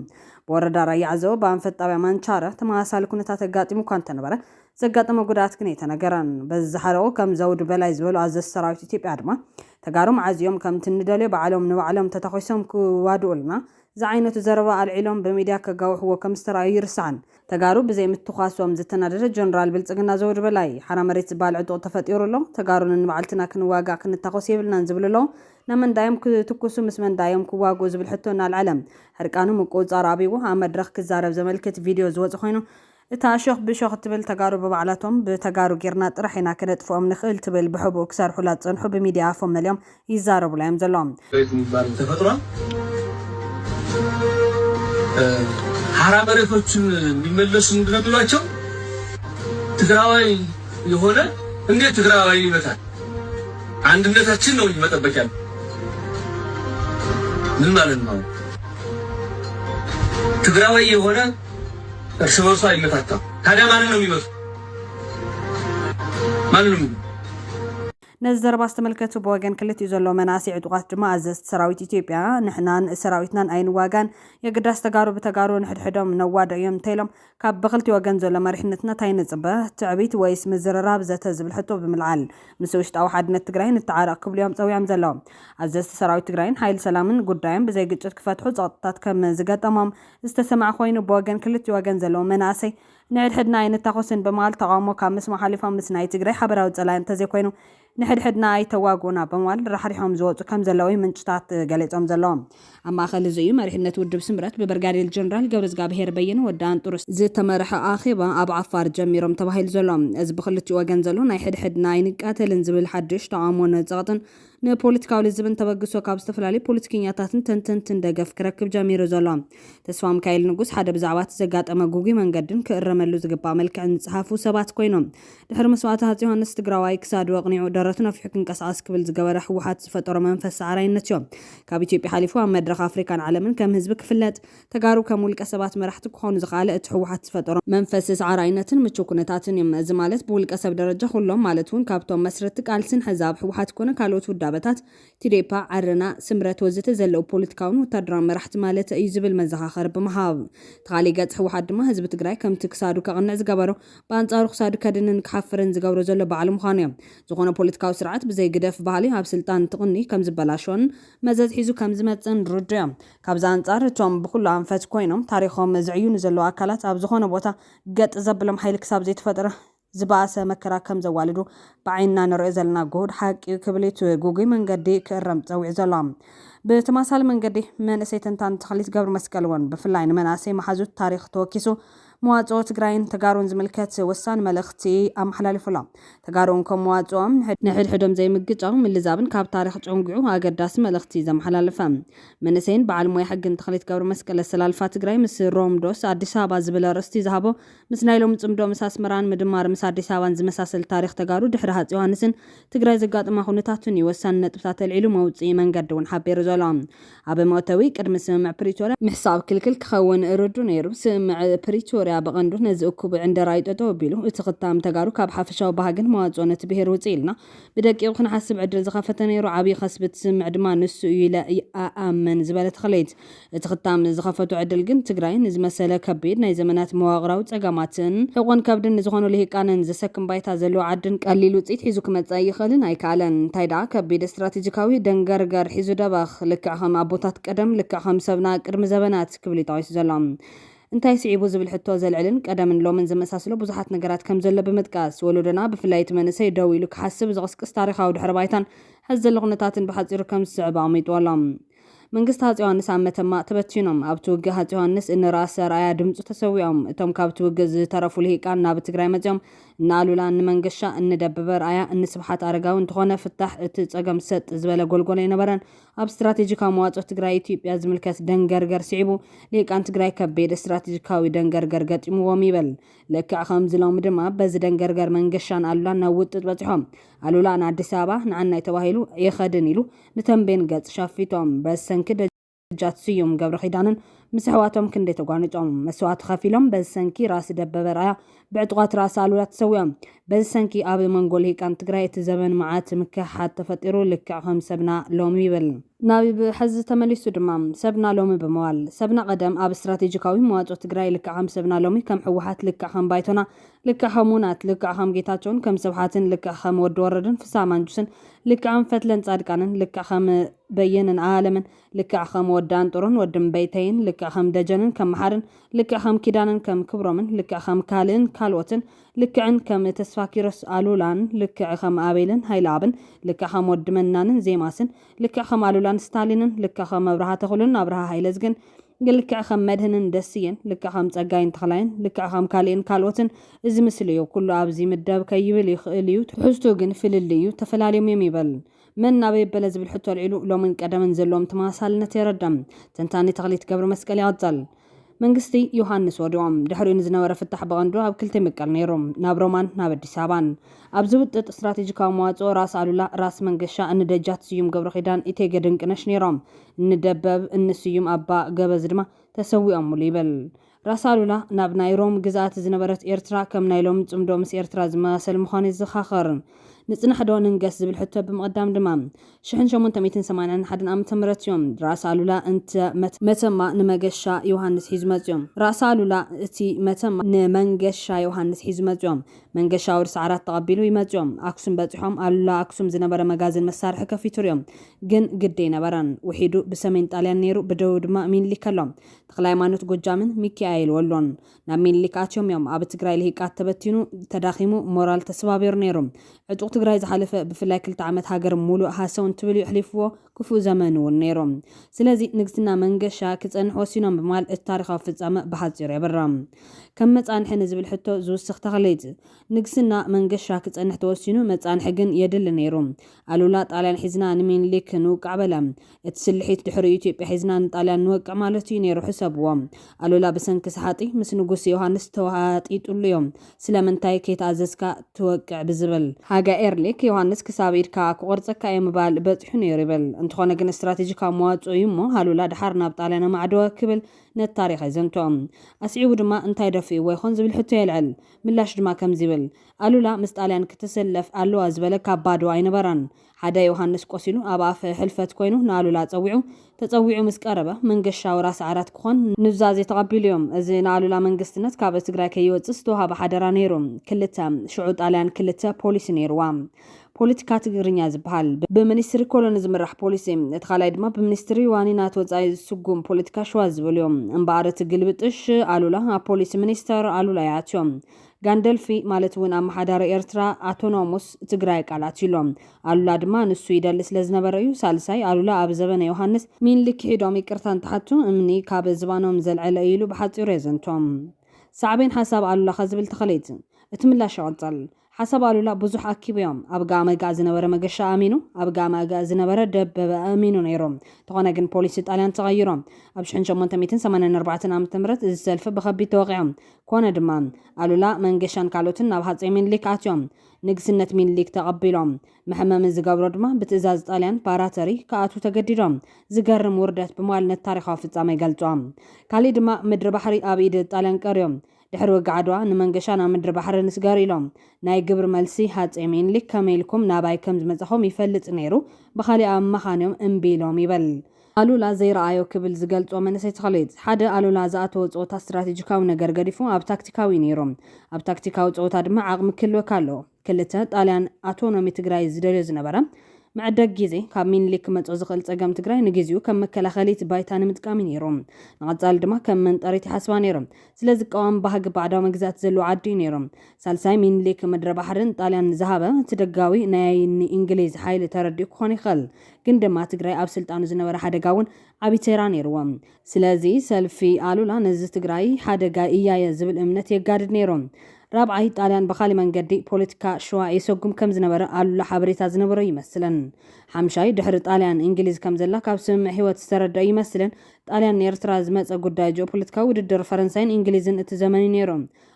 ብወረዳ ራያ ዓዘቦ ብኣንፈት ጣብያ ማንቻረ ተመሳሳሊ ኩነታት ኣጋጢሙ እኳ እንተነበረ ዘጋጠመ ጉድኣት ግን ኣይተነገረን። በዚ ዝሓለቑ ከም ዘውዱ በላይ ዝበሉ ኣዘዝቲ ሰራዊት ኢትዮጵያ ድማ ተጋሩ መዓዝ እዮም ከምቲ እንደልዮ ባዕሎም ንባዕሎም ተታዂሶም ክዋድኡልና ዝዓይነቱ ዘረባ ኣልዒሎም ብሚድያ ከጋውሕዎ ከምዝተራእዩ ኣይርሳዕን። ተጋሩ ብዘይ ምትኳሶም ዝተናደደ ጀነራል ብልፅግና ዘውዲ በላይ፣ ሓራ መሬት ዝበሃል ዕጡቕ ተፈጢሩ ኣሎ፣ ተጋሩ ነንባዕልትና ክንዋጋእ ክንታኾስ የብልናን ዝብሉ ኣለዉ፣ ናብ መን ድኣዮም ክትኩሱ ምስ መን ድኣዮም ክዋግኡ ዝብል ሕቶ እናልዐለ ሕርቃኑ ምቁውፃር ኣብይዎ ኣብ መድረኽ ክዛረብ ዘመልክት ቪድዮ ዝወፀ ኮይኑ እታ ሾኽ ብሾኽ እትብል ተጋሩ ብባዕላቶም ብተጋሩ ጌርና ጥራሕ ኢና ክነጥፍኦም ንኽእል ትብል ብሕቡእ ክሰርሑላ ዝጸንሑ ብሚድያ ኣፎም መሊኦም ይዛረቡላ እዮም ዘለዉ። መሬት ምባል ብተፈጥሮን ሓራ መሬቶችን እንዲመለሱ ምንድን ነው ሚሏቸው ትግራዋይ የሆነ እንዴት ትግራዋይን ይመታል አንድነታችን ነው እንጂ መጠበቅ ያለ ምን ማለት ነው ትግራዋይ የሆነ እርስ በርሱ ኣይመታታም ታዲያ ማንን ነው የሚመቱ ማንም ነዚ ዘረባ ዝተመልከቱ ብወገን ክልቲኡ ዘሎ መናእሰይ ዕጡቓት ድማ ኣዘዝቲ ሰራዊት ኢትዮጵያ ንሕናን ሰራዊትናን ኣይንዋጋን የግዳስ ተጋሩ ብተጋሩ ንሕድሕዶም ነዋዶ እዮም እንተኢሎም ካብ ብክልቲ ወገን ዘሎ መሪሕነትና ታይ ንፅበ ትዕቢት ወይስ ምዝርራብ ዘተ ዝብል ሕቶ ብምልዓል ምስ ውሽጣዊ ሓድነት ትግራይ ንተዓረቕ ክብሉ እዮም ፀዊዖም ዘለዎም ኣዘዝቲ ሰራዊት ትግራይን ሓይሊ ሰላምን ጉዳዮም ብዘይ ግጭት ክፈትሑ ፀቕጥታት ከም ዝገጠሞም ዝተሰምዐ ኮይኑ ብወገን ክልቲኡ ወገን ዘለዉ መናእሰይ ንሕድሕድና ኣይንታኾስን ብምባል ተቓውሞ ካብ ምስማዕ ሓሊፎም ምስ ናይ ትግራይ ሓበራዊ ፀላኢ እንተዘይኮይኑ ንሕድሕድና ኣይተዋግኡና ብምባል ራሕሪሖም ዝወፁ ከምዘለዉ እዩ ምንጭታት ገሊፆም ዘለዉ። ኣብ ማእኸል እዚ እዩ መሪሕነት ውድብ ስምረት ብብርጋዴር ጀነራል ገብረዝጋብሄር በየነ፣ ወዲ ኣንጥሩ፣ ዝተመርሐ ኣኼባ ኣብ ዓፋር ጀሚሮም ተባሂሉ ዘሎ። እዚ ብኽልቲኡ ወገን ዘሎ ናይ ሕድሕድና ኣይንቃተልን ዝብል ሓዱሽ ተቓውሞን ፀቕጥን ንፖለቲካዊ ልዝብን ተበግሶ ካብ ዝተፈላለዩ ፖለቲከኛታትን ተንተንትን ደገፍ ክረክብ ጀሚሩ ዘሎ ተስፋምካኤል ንጉስ፣ ሓደ ብዛዕባ እቲ ዘጋጠመ ግጉይ መንገድን ክእረመሉ ዝግባእ መልክዕን ዝጸሓፉ ሰባት ኮይኑ፣ ድሕሪ መስዋእቲ ሃጽይ ዮሃንስ ትግራዋይ ክሳዱ ኣቕኒዑ ደረቱ ነፊሑ ክንቀሳቐስ ክብል ዝገበረ ህወሓት ዝፈጠሮ መንፈስ ሰዓራይነትዮ። ካብ ኢትዮጵያ ሓሊፉ ኣብ መድረኽ ኣፍሪካን ዓለምን ከም ህዝቢ ክፍለጥ ተጋሩ ከም ውልቀ ሰባት መራሕቲ ክኾኑ ዘኽኣለ እቲ ህወሓት ዝፈጠሮ መንፈስ ሰዓራይነትን ምቹው ኩነታትን እዩ። እዚ ማለት ብውልቀ ሰብ ደረጃ ኩሎም ማለት እውን ካብቶም መስረትቲ ቃልስን ሕዚ ኣብ ህወሓት ኮነ ካልኦት ውዳበታት፣ ቲዴፓ፣ ዓረና፣ ስምረት ወዘተ፣ ዘለዉ ፖለቲካውን ወታደራውን መራሕቲ ማለተይ እዩ ዝብል መዘኻኸሪ ብምሃብ። እቲ ካሊእ ገፅ ህወሓት ድማ ህዝቢ ትግራይ ከምቲ ክሳዱ ከቕንዕ ዝገበሮ ብኣንፃሩ ክሳዱ ከድንን ክሓፍርን ዝገብሮ ዘሎ ባዕሉ ምዃኑ እዩ። ዝኾነ ፖለቲካዊ ስርዓት ብዘይ ግደፍ ባህሊ ኣብ ስልጣን እንትቕንይ ከምዝበላሾን መዘዝ ሒዙ ከምዝመፅእን ርዱእ እዩ። ካብዚ ኣንጻር እቶም ብኹሉ ኣንፈት ኮይኖም ታሪኾም ዝዕዩኑ ዘለዉ ኣካላት ኣብ ዝኾነ ቦታ ገጥ ዘብሎም ሓይሊ ክሳብ ዘይተፈጥረ ዝበኣሰ መከራ ከም ዘዋልዱ ብዓይንና ንርእዮ ዘለና ግሁድ ሓቂ'ዩ ክብል እዩ እቲ ጉጉይ መንገዲ ክእረም ጸዊዑ ዘሎ። ብተማሳሊ መንገዲ መንእሰይ ተንታኒ ተኽሊት ገብርመስቀል'ውን ብፍላይ ንመናእሰይ መሓዙት ታሪኽ ተወኪሱ መዋፅኦ ትግራይን ተጋሩን ዝምልከት ወሳኒ መልእኽቲ ኣመሓላሊፉ ኣሎ። ተጋሩ እንኮ መዋፅኦም ንሕድሕዶም ዘይምግጫው፣ ምልዛብን ካብ ታሪኽ ጨንጒዑ ኣገዳሲ መልእኽቲ እዩ ዘመሓላለፈ። መንእሰይን በዓል ሞያ ሕግን ተኽሊት ገብረመስቀል ኣሰላልፋ ትግራይ ምስ ሮም ዶስ ኣዲስ ኣበባ ዝብል ኣርእስቲ ዝሃቦ ምስ ናይ ሎሚ ፅምዶ ምስ ኣስመራን ምድማር ምስ ኣዲስ ኣበባን ዝመሳሰል ታሪኽ ተጋሩ ድሕሪ ሃፅ ዮሃንስን ትግራይ ዘጋጠማ ኩነታትን እዩ ወሳኒ ነጥብታት ኣልዒሉ መውፅኢ መንገዲ እውን ሓቢሩ ዘሎ። ኣብ መእተዊ፣ ቅድሚ ስምምዕ ፕሪቶርያ ምሕሳብ ክልክል ክኸውን ርዱእ ነይሩ። ስምምዕ ፕሪቶርያ ብቐንዱ ነዚ እኩብ ዕንደራ'ዩ ጠጠው ኣቢሉ። እቲ ክታም ተጋሩ ካብ ሓፈሻዊ ባህግን መዋጽኦን እቲ ብሄር ውጽእ ኢልና ብደቂቑ ክንሓስብ ዕድል ዝኸፈተ ነይሩ። ዓብዪ ከስቢ እቲ ስምምዕ ድማ ንሱ እዩ ኢለ እኣምን ዝበለ ተኽለይት፣ እቲ ክታም ዝኸፈቶ ዕድል ግን ትግራይ ንዝመሰለ ከቢድ ናይ ዘመናት መዋቕራዊ ጸገማትን ሕቖን ከብድን ንዝኾኑ ልሂቃንን ዘሰክም ባይታ ዘለዎ ዓድን ቀሊል ውጽኢት ሒዙ ክመጽእ ኣይኽእልን ኣይከኣለን። እንታይ ደኣ ከቢድ ስትራቴጂካዊ ፊዚካዊ ደንገርገር ሒዙ ደበኽ፣ ልክዕ ከም ኣቦታት ቀደም፣ ልክዕ ከም ሰብና ቅድሚ ዘበናት ክብል እዩ ጠቒሱ ዘሎ። እንታይ ስዒቡ ዝብል ሕቶ ዘልዕልን ቀደምን ሎምን ዘመሳስሎ ብዙሓት ነገራት ከም ዘሎ ብምጥቃስ፣ ወለዶና ብፍላይ እቲ መንእሰይ ደው ኢሉ ክሓስብ ዝቕስቅስ ታሪኻዊ ድሕረ ባይታን ሕዚ ዘሎ ኩነታትን ብሓጺሩ ከም ዝስዕብ ኣቕሚጥዎ ኣሎ። መንግስቲ ሃጽ ዮሃንስ ኣብ መተማ ተበቲኖም። ኣብቲ ውግእ ሃጽ ዮሃንስ፣ እኒ ራእሲ ኣርኣያ ድምጹ ተሰዊኦም። እቶም ካብቲ ውግእ ዝተረፉ ልሂቃን ናብ ትግራይ መጺኦም። እኒ ኣሉላ፣ እኒ መንገሻ፣ እኒ ደበበ ኣርኣያ፣ እኒ ስብሓት ኣረጋዊ። እንተኾነ ፍታሕ እቲ ጸገም ሰጥ ዝበለ ጎልጎል ኣይነበረን። ኣብ ስትራቴጂካዊ መዋጽኦ ትግራይ ኢትዮጵያ ዝምልከት ደንገርገር ስዒቡ፣ ልሂቃን ትግራይ ከቢድ ስትራቴጂካዊ ደንገርገር ገጢሙዎም ይብል። ልክዕ ከምዚ ሎሚ ድማ በዚ ደንገርገር መንገሻን ኣሉላን ናብ ውጥጥ በጺሖም። ኣሉላ ንኣዲስ ኣበባ ንዓናይ ተባሂሉ ኣይኸድን ኢሉ። ንተምቤን ገጽ ሸፊቶም በሰንኪ ደጃት ስዩም ገብረኺዳንን ምስ ኣሕዋቶም ክንደይ ተጓኒጾም መስዋእቲ ከፊሎም በዚ ሰንኪ ራእሲ ደበበ ራያ ብዕጡቓት ራእሲ ኣሉላ ተሰዊኦም በዚ ሰንኪ ኣብ መንጎ ልሂቃን ትግራይ እቲ ዘበን መዓት ምክሕሓድ ተፈጢሩ ልክዕ ከም ሰብና ሎሚ ይብል ናብ ሕዚ ተመሊሱ ድማ ሰብና ሎሚ ብምባል ሰብና ቀደም ኣብ ስትራቴጂካዊ መዋጽኦ ትግራይ ልክዕ ከም ሰብና ሎሚ ከም ህወሓት ልክዕ ከም ባይቶና ልክዕ ከም ውናት ልክዕ ከም ጌታቸውን ከም ስብሓትን ልክዕ ከም ወዲ ወረደን ፍስሃ ማንጁስን ልክዕ ከም ፈትለን ፃድቃንን ልክዕ ከም በየነን ኣኣለምን ልክዕ ከም ወዲ ኣንጥሩን ወዲ እምበይተይን ልክዕ ከም ደጀንን ከም መሓርን ልክዕ ከም ኪዳነን ከም ክብሮምን ልክዕ ከም ካልእን ካልኦትን ልክዕን ከም ተስፋኪሮስ ኣሉላን ልክዕ ከም ኣቤልን ሃይለኣብን ልክዕ ከም ወዲ መናንን ዜማስን ልክዕ ከም ኣሉላን ስታሊንን፣ ልክዕ ከም ኣብርሃ ተኽሉን ኣብርሃ ሃይለዝግን፣ ልክዕ ከም መድህንን ደስየን፣ ልክዕ ከም ፀጋይን ተኽላይን፣ ልክዕ ከም ካሊእን ካልኦትን እዚ ምስሊ እዩ። ኩሉ ኣብዚ ይምደብ ከይብል ይኽእል እዩ፣ ትሕዝትኡ ግን ፍልልይ እዩ፣ ተፈላልዮም እዮም ይበል። መን ናበይ ኣበለ ዝብል ሕቶ ኣልዒሉ ሎምን ቀደምን ዘለዎም ተመሳሳልነት የረድእ። ተንታኒ ተኽሊት ገብረመስቀል ይቕፅል። መንግስቲ ዮሃንስ ወዲቑ። ድሕሪኡ ንዝነበረ ፍታሕ ብቐንዱ ኣብ ክልተ ይምቀል ነይሩ፣ ናብ ሮማን ናብ ኣዲስ ኣበባን። ኣብዚ ውጥጥ ስትራቴጂካዊ መዋጽኦ ራስ ኣሉላ፣ ራስ መንገሻ፣ እኒ ደጃት ስዩም ገብረኺዳን፣ ኢቴጌ ድንቅነሽ ነይሮም። እኒ ደበብ፣ እኒ ስዩም ኣባ ገበዝ ድማ ተሰዊኦሙሉ ይብል። ራስ ኣሉላ ናብ ናይ ሮም ግዝኣት ዝነበረት ኤርትራ ከም ናይ ሎሚ ጽምዶ ምስ ኤርትራ ዝመሳሰል ምዃኑ የዘኻኽር። ንጽናሕ'ዶ ንንገስ ዝብል ሕቶ ብምቕዳም ድማ ሽሕን ሸሞንተ ሚእትን ሰማንያን ሓደን ዓመተ ምህረት እዮም ራእሲ ኣሉላ እንተ መተማ ንመገሻ ዮሃንስ ሒዙ መጺኦም ራእሲ ኣሉላ እቲ መተማ ንመንገሻ ዮሃንስ ሒዙ መጺኦም መንገሻ ወርሲ ዓራት ተቐቢሉ ይመጺኦም ኣክሱም በጺሖም ኣሉላ ኣክሱም ዝነበረ መጋዝን መሳርሒ ከፊቱ ሪኦም ግን ግዲ ኣይነበረን ውሒዱ ብሰሜን ጣልያን ነይሩ ብደቡብ ድማ ሚኒሊክ ኣሎ ተክለሃይማኖት ጎጃምን ሚኪኣኤል ወሎን ናብ ሚኒሊክ ኣትዮም እዮም ኣብ ትግራይ ልሂቃት ተበቲኑ ተዳኺሙ ሞራል ተስባቢሩ ነይሩ ዕጡቕ ትግራይ ዝሓለፈ ብፍላይ ክልተ ዓመት ሃገር ሙሉእ ሃሰው እንትብል እዩ ኣሕሊፍዎ ክፉእ ዘመን እውን ነይሩ ስለዚ ንግስና መንገሻ ክፀንሕ ወሲኖም ብምባል እቲ ታሪኻዊ ፍፃመ ብሓፂሩ የብርህ ከም መፃንሒ ንዝብል ሕቶ ዝውስኽ ተኽሊት ንግስና መንገሻ ክፀንሕ ተወሲኑ መፃንሒ ግን የድሊ ነይሩ ኣሉላ ጣልያን ሒዝና ንሚኒሊክ ንውቃዕ በለ እቲ ስልሒት ድሕሪኡ ኢትዮጵያ ሒዝና ንጣልያን ንወቅዕ ማለት እዩ ነይሩ ሕሰብዎ። ኣሉላ ብሰንኪ ሰሓጢ ምስ ንጉስ ዮሃንስ ተወሃጢጡሉ እዩ። ስለምንታይ ከይተኣዘዝካ ትወቅዕ ብዝብል። ሃገ ኤርሊክ ዮሃንስ ክሳብ ኢድካ ክቆርጸካ እየ ምባል በጺሑ ነይሩ ይብል። እንተኾነ ግን እስትራቴጂካዊ መዋጽኦ እዩ እሞ ኣሉላ ደሓር ናብ ጣልያን ኣማዕደወ ክብል ነቲ ታሪኽ የዘንትኦ። ኣስዒቡ ድማ እንታይ ደፊእዎ ይኾን ዝብል ሕቶ የልዕል። ምላሽ ድማ ከምዚ ይብል። ኣሉላ ምስ ጣልያን ክትስለፍ ኣለዋ ዝበለ ካብ ባዶ ኣይነበረን። ሓደ ዮሃንስ ቆሲሉ ኣብ ኣፍ ሕልፈት ኮይኑ ንኣሉላ ጸዊዑ፣ ተጸዊዑ ምስ ቀረበ መንገሻዊ ራስ ዓራት ክኾን ኑዛዜ ተቐቢሉዮ። እዚ ንኣሉላ መንግስትነት ካብ ትግራይ ከይወጽእ ዝተዋሃበ ሓደራ ነይሩ። ክልተ፣ ሽዑ ጣልያን ክልተ ፖሊሲ ነይሩዋ። ፖለቲካ ትግርኛ ዝበሃል፣ ብሚኒስትሪ ኮሎኒ ዝምራሕ ፖሊሲ፣ እቲ ካልኣይ ድማ ብሚኒስትሪ ዋኒናት ወጻኢ ዝስጉም ፖለቲካ ሽዋ ዝበሉዮ። እምበኣር እቲ ግልብጥሽ ኣሉላ ኣብ ፖሊሲ ሚኒስተር ኣሉላ ይኣትዮ። ጋንደልፊ ማለት እውን ኣመሓዳሪ ኤርትራ፣ ኣቶኖሙስ፣ ትግራይ ቃላት እዩ ኣሎ። ኣሉላ ድማ ንሱ ይደሊ ስለ ዝነበረ እዩ። ሳልሳይ፣ ኣሉላ ኣብ ዘበነ ዮሃንስ፣ ሚንሊክ ኪሒዶም ይቅርታ እንትሓቱ እምኒ ካብ ዝባኖም ዘልዐለ እዩ ኢሉ ብሓጺሩ የዘንቶ። ሳዕቤን ሓሳብ ኣሉላ ከ ዝብል ተኸሌት። እቲ ምላሽ ይቕጽል። ሓሳብ ኣሉላ ብዙሕ ኣኪቡ እዮ። ኣብ ጋእመጋእ ዝነበረ መገሻ ኣእሚኑ፣ ኣብ ጋእመኣጋእ ዝነበረ ደበበ ኣእሚኑ ነይሩ። እንተኾነ ግን ፖሊሲ ጣልያን ተቐይሮ። ኣብ ሽሕን ሸሞንተ ሚእትን ሰማንያን ኣርባዕተን ዓመተ ምህረት እዚ ሰልፊ ብኸቢድ ተወቒዖ። ኮነ ድማ ኣሉላ መንገሻን ካልኦትን ናብ ሃጸይ ሚንሊክ ኣትዮም ንግስነት ሚንሊክ ተቐቢሎም። መሐመሚ ዝገብሮ ድማ ብትእዛዝ ጣልያን፣ ባራተሪ፣ ክኣትዉ ተገዲዶም። ዝገርም ውርደት ብማል ነቲ ታሪኻዊ ፍጻመ ይገልጾ። ካሊእ ድማ ምድሪ ባሕሪ ኣብ ኢድ ጣልያን ቀርዩ። ድሕሪ ውግእ ዓድዋ ንመንገሻ ናብ ምድሪ ባሕሪ ንስገር ኢሎም። ናይ ግብሪ መልሲ ሃጸይ ሚንሊክ ከመይ ኢልኩም ናባይ ከምዝመጻኹም ይፈልጥ ነይሩ ብኻሊእ ኣማኻንዮም እምቢ ኢሎም ይበል። ኣሉላ ዘይረኣዮ ክብል ዝገልጾ መንእሰይ ተኽሊት፣ ሓደ ኣሉላ ዝኣተዎ ጸወታ ስትራቴጂካዊ ነገር ገዲፉ ኣብ ታክቲካዊ እዩ ነይሩ። ኣብ ታክቲካዊ ጸወታ ድማ ዓቕሚ ክህልወካ ኣለዎ። ክልተ፣ ጣልያን ኣቶኖሚ ትግራይ ዝደልዮ ዝነበረ፣ መዐደጊ ግዜ፣ ካብ ሚኒሊክ ክመጾ ዝኽእል ጸገም ትግራይ ንግዚኡ ከም መከላኸሊት ባይታ ንምጥቃም እዩ ነይሩ። ንቐጻሊ ድማ ከም መንጠሪት ይሓስባ ነይሩ። ስለዚ ቀዋሚ ባህጊ ባዕዳዊ መግዛእቲ ዘለዎ ዓዲ እዩ ነይሩ። ሳልሳይ፣ ሚኒሊክ ምድረባሕሪ ንጣልያን ዝሃበ፣ እቲ ደጋዊ ናይ ንኢንግሊዝ ሓይሊ ተረዲኡ ክኾን ይኽእል። ግን ድማ ትግራይ ኣብ ስልጣኑ ዝነበረ ሓደጋ እውን ዓብይ ተራ ነይርዎ። ስለዚ ሰልፊ ኣሉላ ነዚ ትግራይ ሓደጋ እያየ ዝብል እምነት የጋድድ ነይሩ። ራብዓይ ጣልያን ብኻሊእ መንገዲ ፖለቲካ ሽዋ የሰጉም ከም ዝነበረ ኣሉላ ሓበሬታ ዝነበሮ ይመስልን። ሓምሻይ ድሕሪ ጣልያን እንግሊዝ ከም ዘላ ካብ ስምምዕ ሂወት ዝተረደኦ ይመስልን። ጣልያን ንኤርትራ ዝመፀ ጉዳይ ጂኦፖለቲካዊ ውድድር ፈረንሳይን እንግሊዝን እቲ ዘመን እዩ ነይሩ።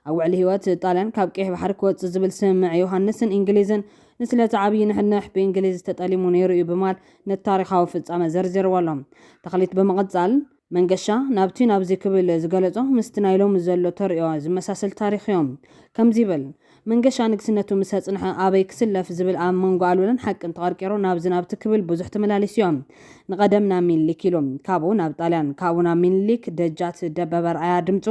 ኣብ ውዕሊ ህይወት ጣልያን ካብ ቀይሕ ባሕሪ ክወጽእ ዝብል ስምምዕ ዮሃንስን እንግሊዝን ንስለቲ ዓብዪ ንሕንሕ ብእንግሊዝ ተጠሊሙ ነይሩ እዩ ብማል ነቲ ታሪኻዊ ፍጻመ ዘርዚርዎ ኣሎ ተኽሊት ብምቕጻል። መንገሻ ናብቲ ናብዚ ክብል ዝገለጾ ምስቲ ናይ ሎሚ ዘሎ ተርእዮ ዝመሳሰል ታሪኽ እዮ። ከምዚ ይብል መንገሻ ንግስነቱ ምስ ኣጽንሐ ኣበይ ክስለፍ ዝብል ኣብ መንጎ ኣሉላን ሓቅን ተቐርቂሩ ናብዚ ናብቲ ክብል ብዙሕ ተመላሊሱ እዮ። ንቐደም ናብ ሚንሊክ ኢሉ ካብኡ ናብ ጣልያን ካብኡ ናብ ሚንሊክ ደጃት ደበበ ኣርኣያ ድምጹ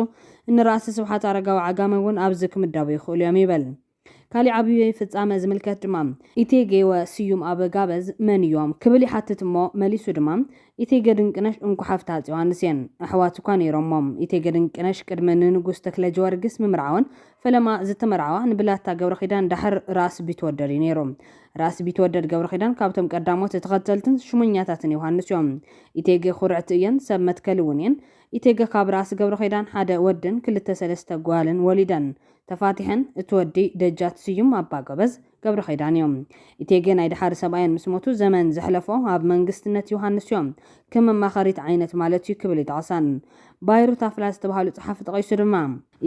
እኒ ራእሲ ስብሓት ኣረጋዊ ዓጋመ እውን ኣብዚ ክምደቡ ይኽእሉ እዮም ይብል። ካሊእ ዓብዪ ፍፃመ ዝምልከት ድማ ኢቴጌ ወስዩም ኣበጋበዝ መን እዮም? ክብል ይሓትት እሞ መሊሱ ድማ ኢቴጌ ድንቅነሽ እንኮ ሓፍቲ ሃፄ ዮሃንስ እየን። ኣሕዋት እኳ ነይሮሞም። ኢቴጌ ድንቅነሽ ቅድሚ ንንጉስ ተክለጀወርግስ ምምርዓወን ፈለማ ዝተመርዓዋ ንብላታ ገብረኺዳን ዳሕር ራእሲ ቢትወደድ እዩ ነይሩ። ራእሲ ቢትወደድ ገብረኺዳን ካብቶም ቀዳሞት ተኸተልትን ሹመኛታትን ዮሃንስ እዮም። ኢቴጌ ኹርዕቲ እየን ሰብ መትከሊ እውን እየን። ኢቴገ ካብ ራእሲ ገብረኺዳን ሓደ ወድን ክልተ ሰለስተ ጓልን ወሊደን። ተፋቲሐን። እቲ ወዲ ደጃት ስዩም ኣባጎበዝ ገብረኺዳን እዩ። ኢቴጌ ናይ ደሓር ሰብኣየን ምስ ሞቱ ዘመን ዘሕለፎ ኣብ መንግስትነት ዮሃንስ እዩ። ክም ኣማኸሪት ዓይነት ማለት እዩ ክብል ይጠቕሰን። ባይሩ ታፍላ ዝተብሃሉ ጸሓፊ ጠቒሱ ድማ።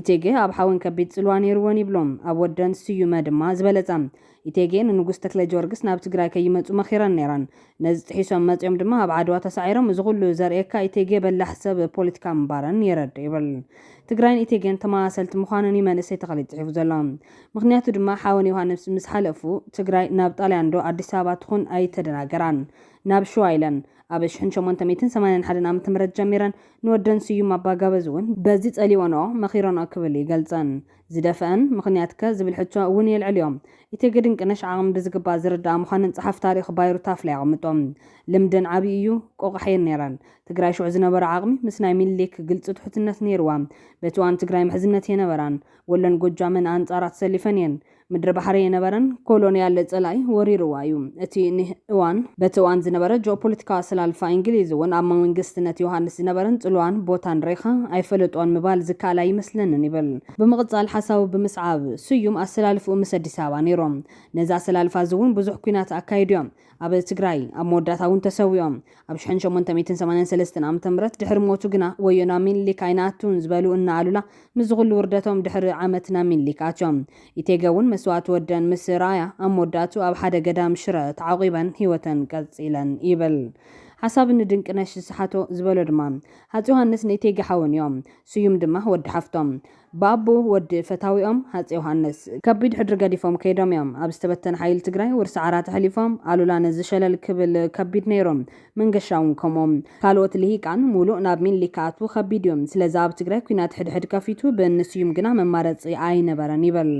ኢቴጌ ኣብ ሓወን ከቢድ ጽልዋ ነይሩወን ይብሉ። ኣብ ወደን ስዩመ ድማ ዝበለጸ። ኢቴጌ ንንጉስ ተክለጀወርግስ ናብ ትግራይ ከይመጹ መኺረን ነይረን። ነዚ ጥሒሶም መጺኦም ድማ ኣብ ዓድዋ ተሳዒሮም። እዚ ኩሉ ዘርእየካ ኢቴጌ በላሕ ሰብ ፖለቲካ ምንባረን የረድእ ይብል። ትግራይን ኢቴጌን ተመሳሰልቲ ምዃነን እዩ መንእሰይ ተኽሊት ጽሒፉ ዘሎ። ምኽንያቱ ድማ ሓወን ዮሃንስ ምስ ሓለፉ ትግራይ ናብ ጣልያን ዶ ኣዲስ ኣበባ ትኹን ኣይተደናገራን። ናብ ሽዋ ኢለን። ኣብ ሽሕን ሸሞንተ ሚእትን ሰማንያን ሓደን ዓመተ ምህረት ጀሚረን። ንወደን ስዩም ኣባጋበዝ እውን በዚ ጸሊኦንኦ መኺረንኦ ክብል ይገልጸን። ዝደፈእን ምኽንያትከ ዝብል ሕቶ እውን የልዕልዮ። ኢቴጌ ድንቅነሽ ዓቕሚ ብዝግባእ ዝርድኣ ምዃነን ጸሓፊ ታሪኽ ባይሩ ታፍላ የቐምጦ። ልምደን ዓቢ እዩ፣ ቆቛሕየን ነይረን። ትግራይ ሽዑ ዝነበራ ዓቕሚ ምስ ናይ ሚኒሊክ ግልጺ ትሑትነት ነይርዋ። በቲ እዋን ትግራይ ምሕዝነት እየነበራን። ወሎን ጎጃምን ኣንጻራ ተሰሊፈን እየን። ምድሪ ባሕሪ እየነበረን። ኮሎንያል ጸላኢ ወሪርዋ እዩ። እቲ ን። እዋን፣ በቲ እዋን ዝነበረ ጂኦፖለቲካዊ ኣሰላልፋ ኢንግሊዝ እውን ኣብ መንግስትነት ዮሃንስ ዝነበረን ጽልዋን ቦታን ርኢኻ ኣይፈለጦን ምባል ዝከኣል ኣይመስለንን ይብል። ብምቕጻል ሓሳቡ ብምስዓብ፣ ስዩም ኣሰላልፍኡ ምስ ኣዲስ ኣበባ ነይሩ። ነዚ ኣሰላልፋ እዚ እውን ብዙሕ ኲናት ኣካይዱ እዮም። ኣብ ትግራይ፣ ኣብ መወዳእታ እውን ተሰዊኦም። ኣብ ሽሕን ሸሞንተ ሚእትን ሰማንያን ሰለስተን ዓመተ ምህረት ድሕሪ ሞቱ ግና ወዮ ናብ ሚኒሊክ ኣይንኣቱን ዝበሉ እነ ኣሉላ ምስዚ ኩሉ ውርደቶም ድሕሪ ዓመት ናብ ሚኒሊክ ኣትዮም። ኢቴገ እውን መስዋእቲ ወደን ምስ ረኣያ ኣብ መወዳእትኡ ኣብ ሓደ ገዳም ሽረ ተዓቑበን ህይወተን ቀፂለን ይብል ሓሳብ እኒ ድንቅነሽ ዝሰሓቶ ዝበሎ ድማ ሃፀይ ዮሃንስ ንኢቴጌ ሓወን እዮም። ስዩም ድማ ወዲ ሓፍቶም። ብኣቦ ወዲ ፈታዊኦም ሃፄ ዮሃንስ ከቢድ ሕድሪ ገዲፎም ከይዶም እዮም። ኣብ ዝተበተነ ሓይሊ ትግራይ ውርሲ ዓራት ኣሕሊፎም። ኣሉላ ነዚ ሸለል ክብል ከቢድ ነይሩ። መንገሻ እውን ከምኡ። ካልኦት ልሂቃን ሙሉእ ናብ ሚኒሊክ ክኣትዉ ከቢድ እዩ። ስለዚ ኣብ ትግራይ ኲናት ሕድሕድ ከፊቱ ብእኒ ስዩም ግና መማረፂ ኣይነበረን ይብል።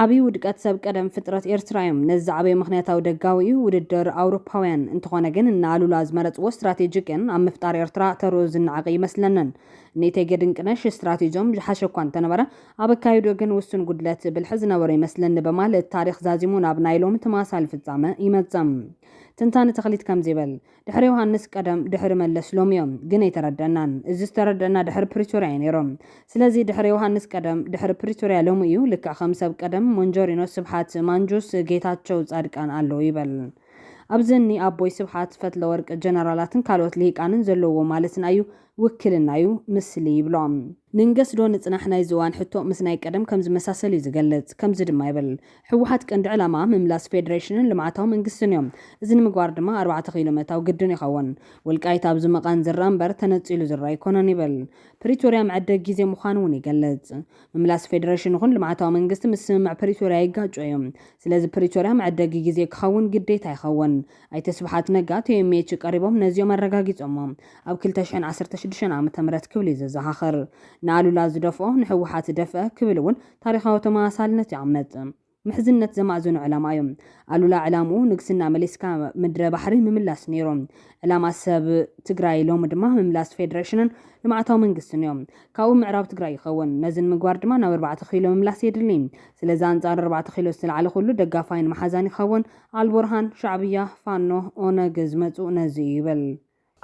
ዓብይ ውድቀት ሰብ ቀደም ፍጥረት ኤርትራ እዮም። ነዚ ዝዓበየ ምኽንያታዊ ደጋዊ እዩ ውድድር ኣውሮፓውያን። እንተኾነ ግን እነ ኣሉላ ዝመረጽዎ ስትራቴጂ ግን ኣብ ምፍጣር ኤርትራ ተርኡ ዝነዓቕ እይመስለንን። እኒ እቴጌ ድንቅነሽ ስትራቴጂኦም ዝሓሸ እኳ እንተነበረ ኣብ ኣካይድኡ ግን ውሱን ጉድለት ብልሒ ዝነበሮ ይመስለኒ በማለት ታሪኽ ዛዚሙ ናብ ናይ ሎሚ ተመሳሳሊ ፍጻመ ይመጽእ። ትንታነ ተኽሊት ከምዚ ይብል። ድሕሪ ዮሃንስ ቀደም ድሕሪ መለስ ሎሚዮ ግን ኣይተረደእናን እዚ ዝተረደእና ድሕሪ ፕሪቶርያ እዩ ነይሩ ስለዚ ድሕሪ ዮሃንስ ቀደም ድሕሪ ፕሪቶርያ ሎሚ እዩ ልክዕ ከም ሰብ ቀደም ሞንጆሪኖ ስብሓት ማንጁስ ጌታቸው ፃድቃን ኣለው ይበል ኣብዚ እኒ ኣቦይ ስብሓት ፈትለወርቅ ጀነራላትን ካልኦት ልሂቃንን ዘለውዎ ማለትን ኣዩ ውክልና'ዩ ምስሊ ይብሎ። ንንገስ ዶ ንጽናሕ ናይዚ እዋን ሕቶ ምስ ናይ ቀደም ከም ዝመሳሰል'ዩ ዝገልጽ። ከምዚ ድማ ይብል፣ ህወሓት ቀንዲ ዕላማኣ ምምላስ ፌደሬሽንን ልምዓታዊ መንግስቲን'ዩ። እዚ ንምግባር ድማ ኣርባዕተ ኪሎ ምእታው ግድን ይኸውን። ወልቃይት ኣብ ዝምቐን ዝርኣ እምበር ተነጺሉ ዝርኣ ኣይኮነን ይብል። ፕሪቶርያ መዐደጊ ግዜ ምዃኑ'ውን ይገልጽ። ምምላስ ፌደሬሽን ይኹን ልምዓታዊ መንግስቲ ምስ ስምምዕ ፕሪቶርያ ይጋጮ'ዩ። ስለዚ ፕሪቶርያ መዐደጊ ግዜ ክኸውን ግዴታ ይኸውን። ኣይተ ስብሓት ነጋ ቶዮሜች ቀሪቦም ነዚኦም ኣረጋጊፆሞ። ኣብ ክልተ ሽሕን ዓሰርተ ሽዱሽተን ዓመተ ምህረት ክብል እዩ ዘዘኻኽር። ንኣሉላ ዝደፍኦ ንህወሓት ደፍአ ክብል እውን ታሪኻዊ ተመሳሳልነት ይኣምት። ምሕዝነት ዘማእዘኑ ዕላማ እዩ። ኣሉላ ዕላምኡ ንግስና መሊስካ ምድረ ባሕሪ ምምላስ ነይሩ። ዕላማ ሰብ ትግራይ ሎሚ ድማ ምምላስ ፌደሬሽንን ልምዓታዊ መንግስትን እዩ። ካብኡ ምዕራብ ትግራይ ይኸውን። ነዚ ንምግባር ድማ ናብ ኣርባዕተ ኪሎ ምምላስ የድሊ። ስለዚ ኣንፃር ኣርባዕተ ኪሎ ዝተልዓለ ኩሉ ደጋፋይን መሓዛን ይኸውን። ኣልቡርሃን፣ ሻዕብያ፣ ፋኖ፣ ኦነግ ዝመጽኡ ነዚ እዩ ይብል።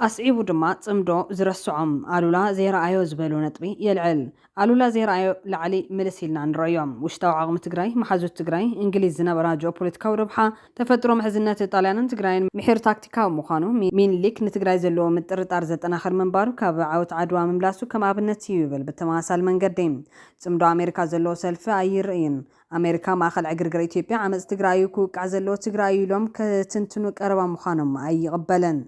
ኣስዒቡ ድማ ጽምዶ ዝረስዖም ኣሉላ ዘይረኣዮ ዝበሎ ነጥቢ የልዕል። ኣሉላ ዘይረኣዮ ላዕሊ ምልስ ኢልና ንረእዮ። ውሽጣዊ ዓቕሚ ትግራይ፣ መሓዙት ትግራይ፣ እንግሊዝ ዝነበራ ጂኦፖለቲካዊ ረብሓ፣ ተፈጥሮ ምሕዝነት ጣልያንን ትግራይን፣ ምሒር ታክቲካዊ ምዃኑ፣ ሚንሊክ ንትግራይ ዘለዎ ምጥርጣር ዘጠናኽር ምንባሩ፣ ካብ ዓወት ዓድዋ ምምላሱ ከም ኣብነት እዩ ይብል። ብተመሳሳሊ መንገዲ ጽምዶ ኣሜሪካ ዘለዎ ሰልፊ ኣይርእይን። ኣሜሪካ ማእኸል ዕግርግር ኢትዮጵያ ዓመፅ ትግራይ እዩ ክውቃዕ ዘለዎ ትግራይ እዩ ኢሎም ከትንትኑ ቀረባ ምዃኖም ኣይቕበልን።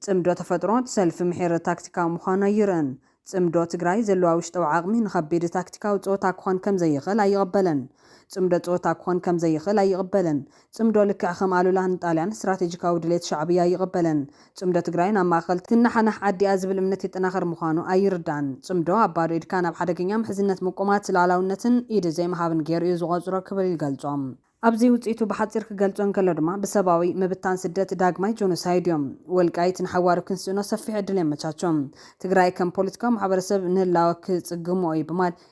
ፅምዶ ተፈጥሮ እቲ ሰልፊ ምሒር ታክቲካዊ ምዃኑ ኣይርእን። ፅምዶ ትግራይ ዘለዋ ውሽጠዊ ዓቕሚ ንኸቢድ ታክቲካዊ ፀወታ ክኾን ከምዘይኽእል ኣይቕበልን። ፅምዶ ፀወታ ክኾን ከምዘይኽእል ኣይቕበልን። ጽምዶ ልክዕ ከም ኣሉላ ንጣልያን ስትራቴጂካዊ ድሌት ሻዕብያ ኣይቕበልን። ጽምዶ ትግራይ ናብ ማእኸል ትነሓናሕ ዓዲ'ያ ዝብል እምነት የጠናኽር ምዃኑ ኣይርዳን። ጽምዶ ኣብ ባዶ ኢድካ ናብ ሓደገኛ ምሕዝነት ምቁማት ልኣላውነትን ኢድ ዘይምሃብን ገይሩ'ዩ ዝቖጽሮ ክብል ይገልጾ። ኣብዚ ውጽኢቱ ብሓጺር ክገልጾ እንከሎ ድማ ብሰብኣዊ ምብታን ስደት ዳግማይ ጆኖሳይድ'ዩ። ወልቃይት ንሓዋሩ ክንስእኖ ሰፊሕ ዕድል የመቻቹ። ትግራይ ከም ፖለቲካዊ ማሕበረሰብ ንህላወ ክጽግሞ'ዩ ብማል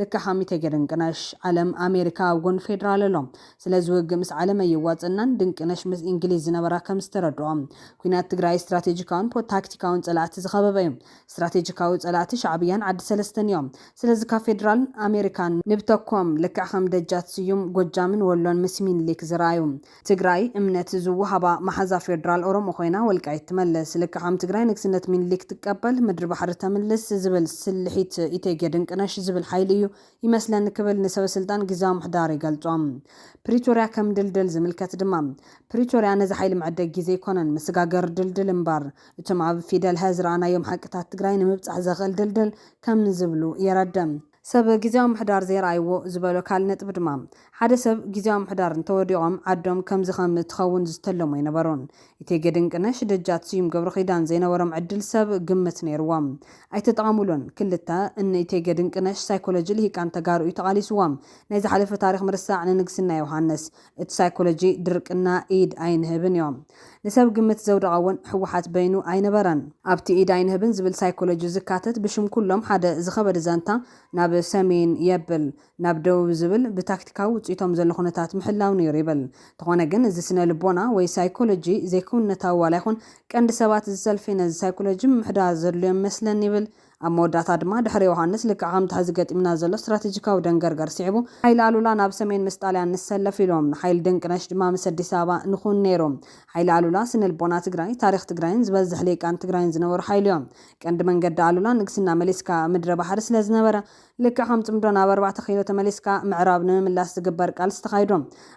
ልክዕ ሃሚ ተገርንቅነሽ ዓለም ኣሜሪካ ኣብ ጎኒ ፌድራል ኣሎ ስለዚ ውግእ ምስ ዓለም ኣይዋፅእናን ድንቅነሽ ምስ ኢንግሊዝ ዝነበራ ከምዝተረድኦ ኩናት ትግራይ ስትራቴጂካውን ፖታክቲካውን ፀላእቲ ዝኸበበ እዩ ስትራቴጂካዊ ፀላእቲ ሻዕብያን ዓዲ ሰለስተን እዮም ስለዚ ካብ ፌድራልን ኣሜሪካን ንብተኮም ልክዕ ከም ደጃት ስዩም ጎጃምን ወሎን ምስ ሚንሊክ ዝረኣዩ ትግራይ እምነት ዝወሃባ መሓዛ ፌድራል ኦሮሞ ኮይና ወልቃይት ትመልስ ልክዕ ከም ትግራይ ንግስነት ሚኒሊክ ትቀበል ምድሪ ባሕሪ ተምልስ ዝብል ስልሒት ኢቴጌ ድንቅነሽ ዝብል ሓይሊ እዩ ይመስለኒ ክብል ንሰበስልጣን ግዝያዊ ምሕዳር ይገልጾ ፕሪቶርያ ከም ድልድል ዝምልከት ድማ ፕሪቶርያ ነዚ ሓይሊ መዐደጊ ግዜ ኣይኮነን መሰጋገሪ ድልድል እምበር እቶም ኣብ ፊደል ሀ ዝረኣናዮም ሓቅታት ትግራይ ንምብፃሕ ዘኽእል ድልድል ከም ዝብሉ የረድእ። ሰብ ግዝያዊ ምሕዳር ዘይረኣይዎ ዝበሎ ካልእ ነጥቢ ድማ፣ ሓደ ሰብ ግዝያዊ ምሕዳር እንተወዲቖም ዓዶም ከምዚ ከም እትኸውን ዝተለሙ ኣይነበሩን። ኢቴጌ ድንቅነሽ፣ ደጃት ስዩም ገብረኺዳን ዘይነበሮም ዕድል ሰብ ግምት ነይርዎም። ኣይተጠቐሙሉን። ክልተ፣ እኒ ኢቴጌ ድንቅነሽ ሳይኮሎጂ ልሂቃን ተጋሩ እዩ ተቓሊስዎም። ናይ ዝሓለፈ ታሪኽ ምርሳዕ ንንግስና ዮሃንስ። እቲ ሳይኮሎጂ ድርቅና ኢድ ኣይንህብን እዮም ንሰብ ግምት ዘውደቐ እውን ህወሓት በይኑ ኣይነበረን። ኣብቲ ኢድ ኣይንህብን ዝብል ሳይኮሎጂ ዝካተት ብሽም ኩሎም ሓደ ዝኸበደ ዛንታ ናብ ሰሜን የብል ናብ ደቡብ ዝብል ብታክቲካዊ ውፅኢቶም ዘሎ ኩነታት ምሕላው ነይሩ ይብል። ተኾነ ግን እዚ ስነ ልቦና ወይ ሳይኮሎጂ ዘይክውንነታዊ ዋላ ይኹን ቀንዲ ሰባት እዚ ሰልፊ ነዚ ሳይኮሎጂ ምምሕዳር ዘድልዮም ይመስለኒ ይብል ኣብ መወዳእታ ድማ ድሕሪ ዮሃንስ ልክዕ ከምቲ ሕዚ ገጢምና ዘሎ ስትራቴጂካዊ ደንገርገር ስዒቡ ሓይሊ ኣሉላ ናብ ሰሜን ምስ ጣልያን ንሰለፍ ኢሎም ንሓይሊ ድንቅነሽ ድማ ምስ ኣዲስ ኣበባ ንኹን ነይሩ ሓይሊ ኣሉላ ስነልቦና ትግራይ ታሪኽ ትግራይን ዝበዝሕ ሊቃን ትግራይን ዝነበሩ ሓይሊዮም ቀንዲ መንገዲ ኣሉላ ንግስና መሊስካ ኣብ ምድረ ባሕሪ ስለዝነበረ ልክዕ ከም ፅምዶ ናብ ኣርባዕተ ኪሎ ተመሊስካ ምዕራብ ንምምላስ ዝግበር ቃልሲ ተኻይዱ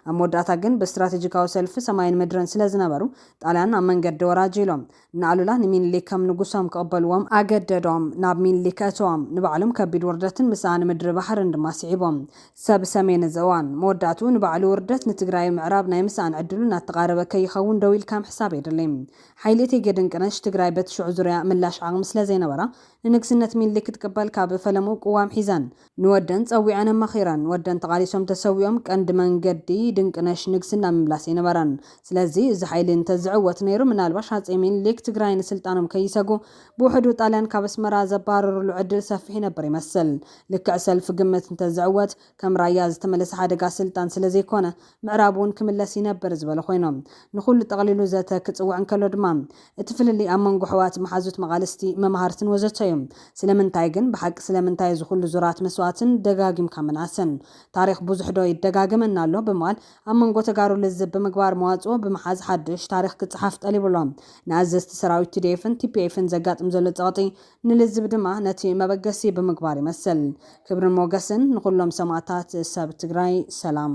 ኣብ መወዳእታ ግን ብስትራቴጂካዊ ሰልፊ ሰማይን ምድርን ስለዝነበሩ ጣልያን ኣብ መንገዲ ወራጅ ኢሎም ንኣሉላ ንሚኒሊክ ከም ንጉሶም ክቕበልዎም ኣገደዶም። ናብ ሚኒሊክ ኣእተዎም። ንባዕሎም ከቢድ ውርደትን ምስኣን ምድሪ ባሕርን ድማ ስዒቦም። ሰብ ሰሜን እዚ እዋን፣ መወዳእትኡ ንባዕሉ ውርደት፣ ንትግራይ ኣብ ምዕራብ ናይ ምስኣን ዕድሉ እናተቓረበ ከይኸውን ደው ኢልካ ምሕሳብ የድሊ። ሓይሊ እቴጌ ድንቅነሽ፣ ትግራይ በቲ ሽዑ ዙርያኣ ምላሽ ዓቕሚ ስለዘይነበራ፣ ንንግስነት ሚኒሊክ ክትቅበል ካብ ፈለሙ ቅዋም ሒዘን፣ ንወደን ጸዊዐን ኣማኺረን። ወደን ተቓሊሶም ተሰዊኦም ቀንዲ መንገዲ ድንቅነሽ ንግስና ምምላስ ኣይነበረን። ስለዚ እዚ ሓይሊ እንተዝዕወት ነይሩ ምናልባሽ ሃጸይ ሚኒሊክ ትግራይ ንስልጣኖም ከይሰጉ ብውሕዱ ጣልያን ካብ ኣስመራ ዘባርርሉ ዕድል ሰፊሕ ይነብር ይመስል። ልክዕ ሰልፊ ግምት እንተዝዕወት ከም ራያ ዝተመለሰ ሓደጋ ስልጣን ስለዘይኮነ ምዕራብ እውን ክምለስ ይነብር ዝበሉ ኮይኖም፣ ንኹሉ ጠቕሊሉ ዘተ ክጽውዕ እንከሎ ድማ፣ እቲ ፍልልይ ኣብ መንጎ ኣሕዋት፣ መሓዙት መቓልስቲ፣ መማህርትን ወዘተ እዩ። ስለምንታይ ግን? ብሓቂ ስለምንታይ እዚ ኩሉ ዙራት መስዋእትን ደጋጊምካ ምንኣስን? ታሪኽ ብዙሕ ዶ ይደጋገመና ኣሎ? ብምባል ኣብ መንጎ ተጋሩ ልዝብ ብምግባር መዋጽኦ ብምሓዝ ሓዱሽ ታሪኽ ክጸሓፍ ጠሊቡ ኣሎ። ንኣዘዝቲ ሰራዊት ቲዲኤፍን ቲፒኤፍን ዘጋጥም ዘሎ ጸቕጢ ንልዝብ ድማ ነቲ መበገሲ ብምግባር ይመስል። ክብርን ሞገስን ንኹሎም ሰማእታት ሰብ ትግራይ ሰላም።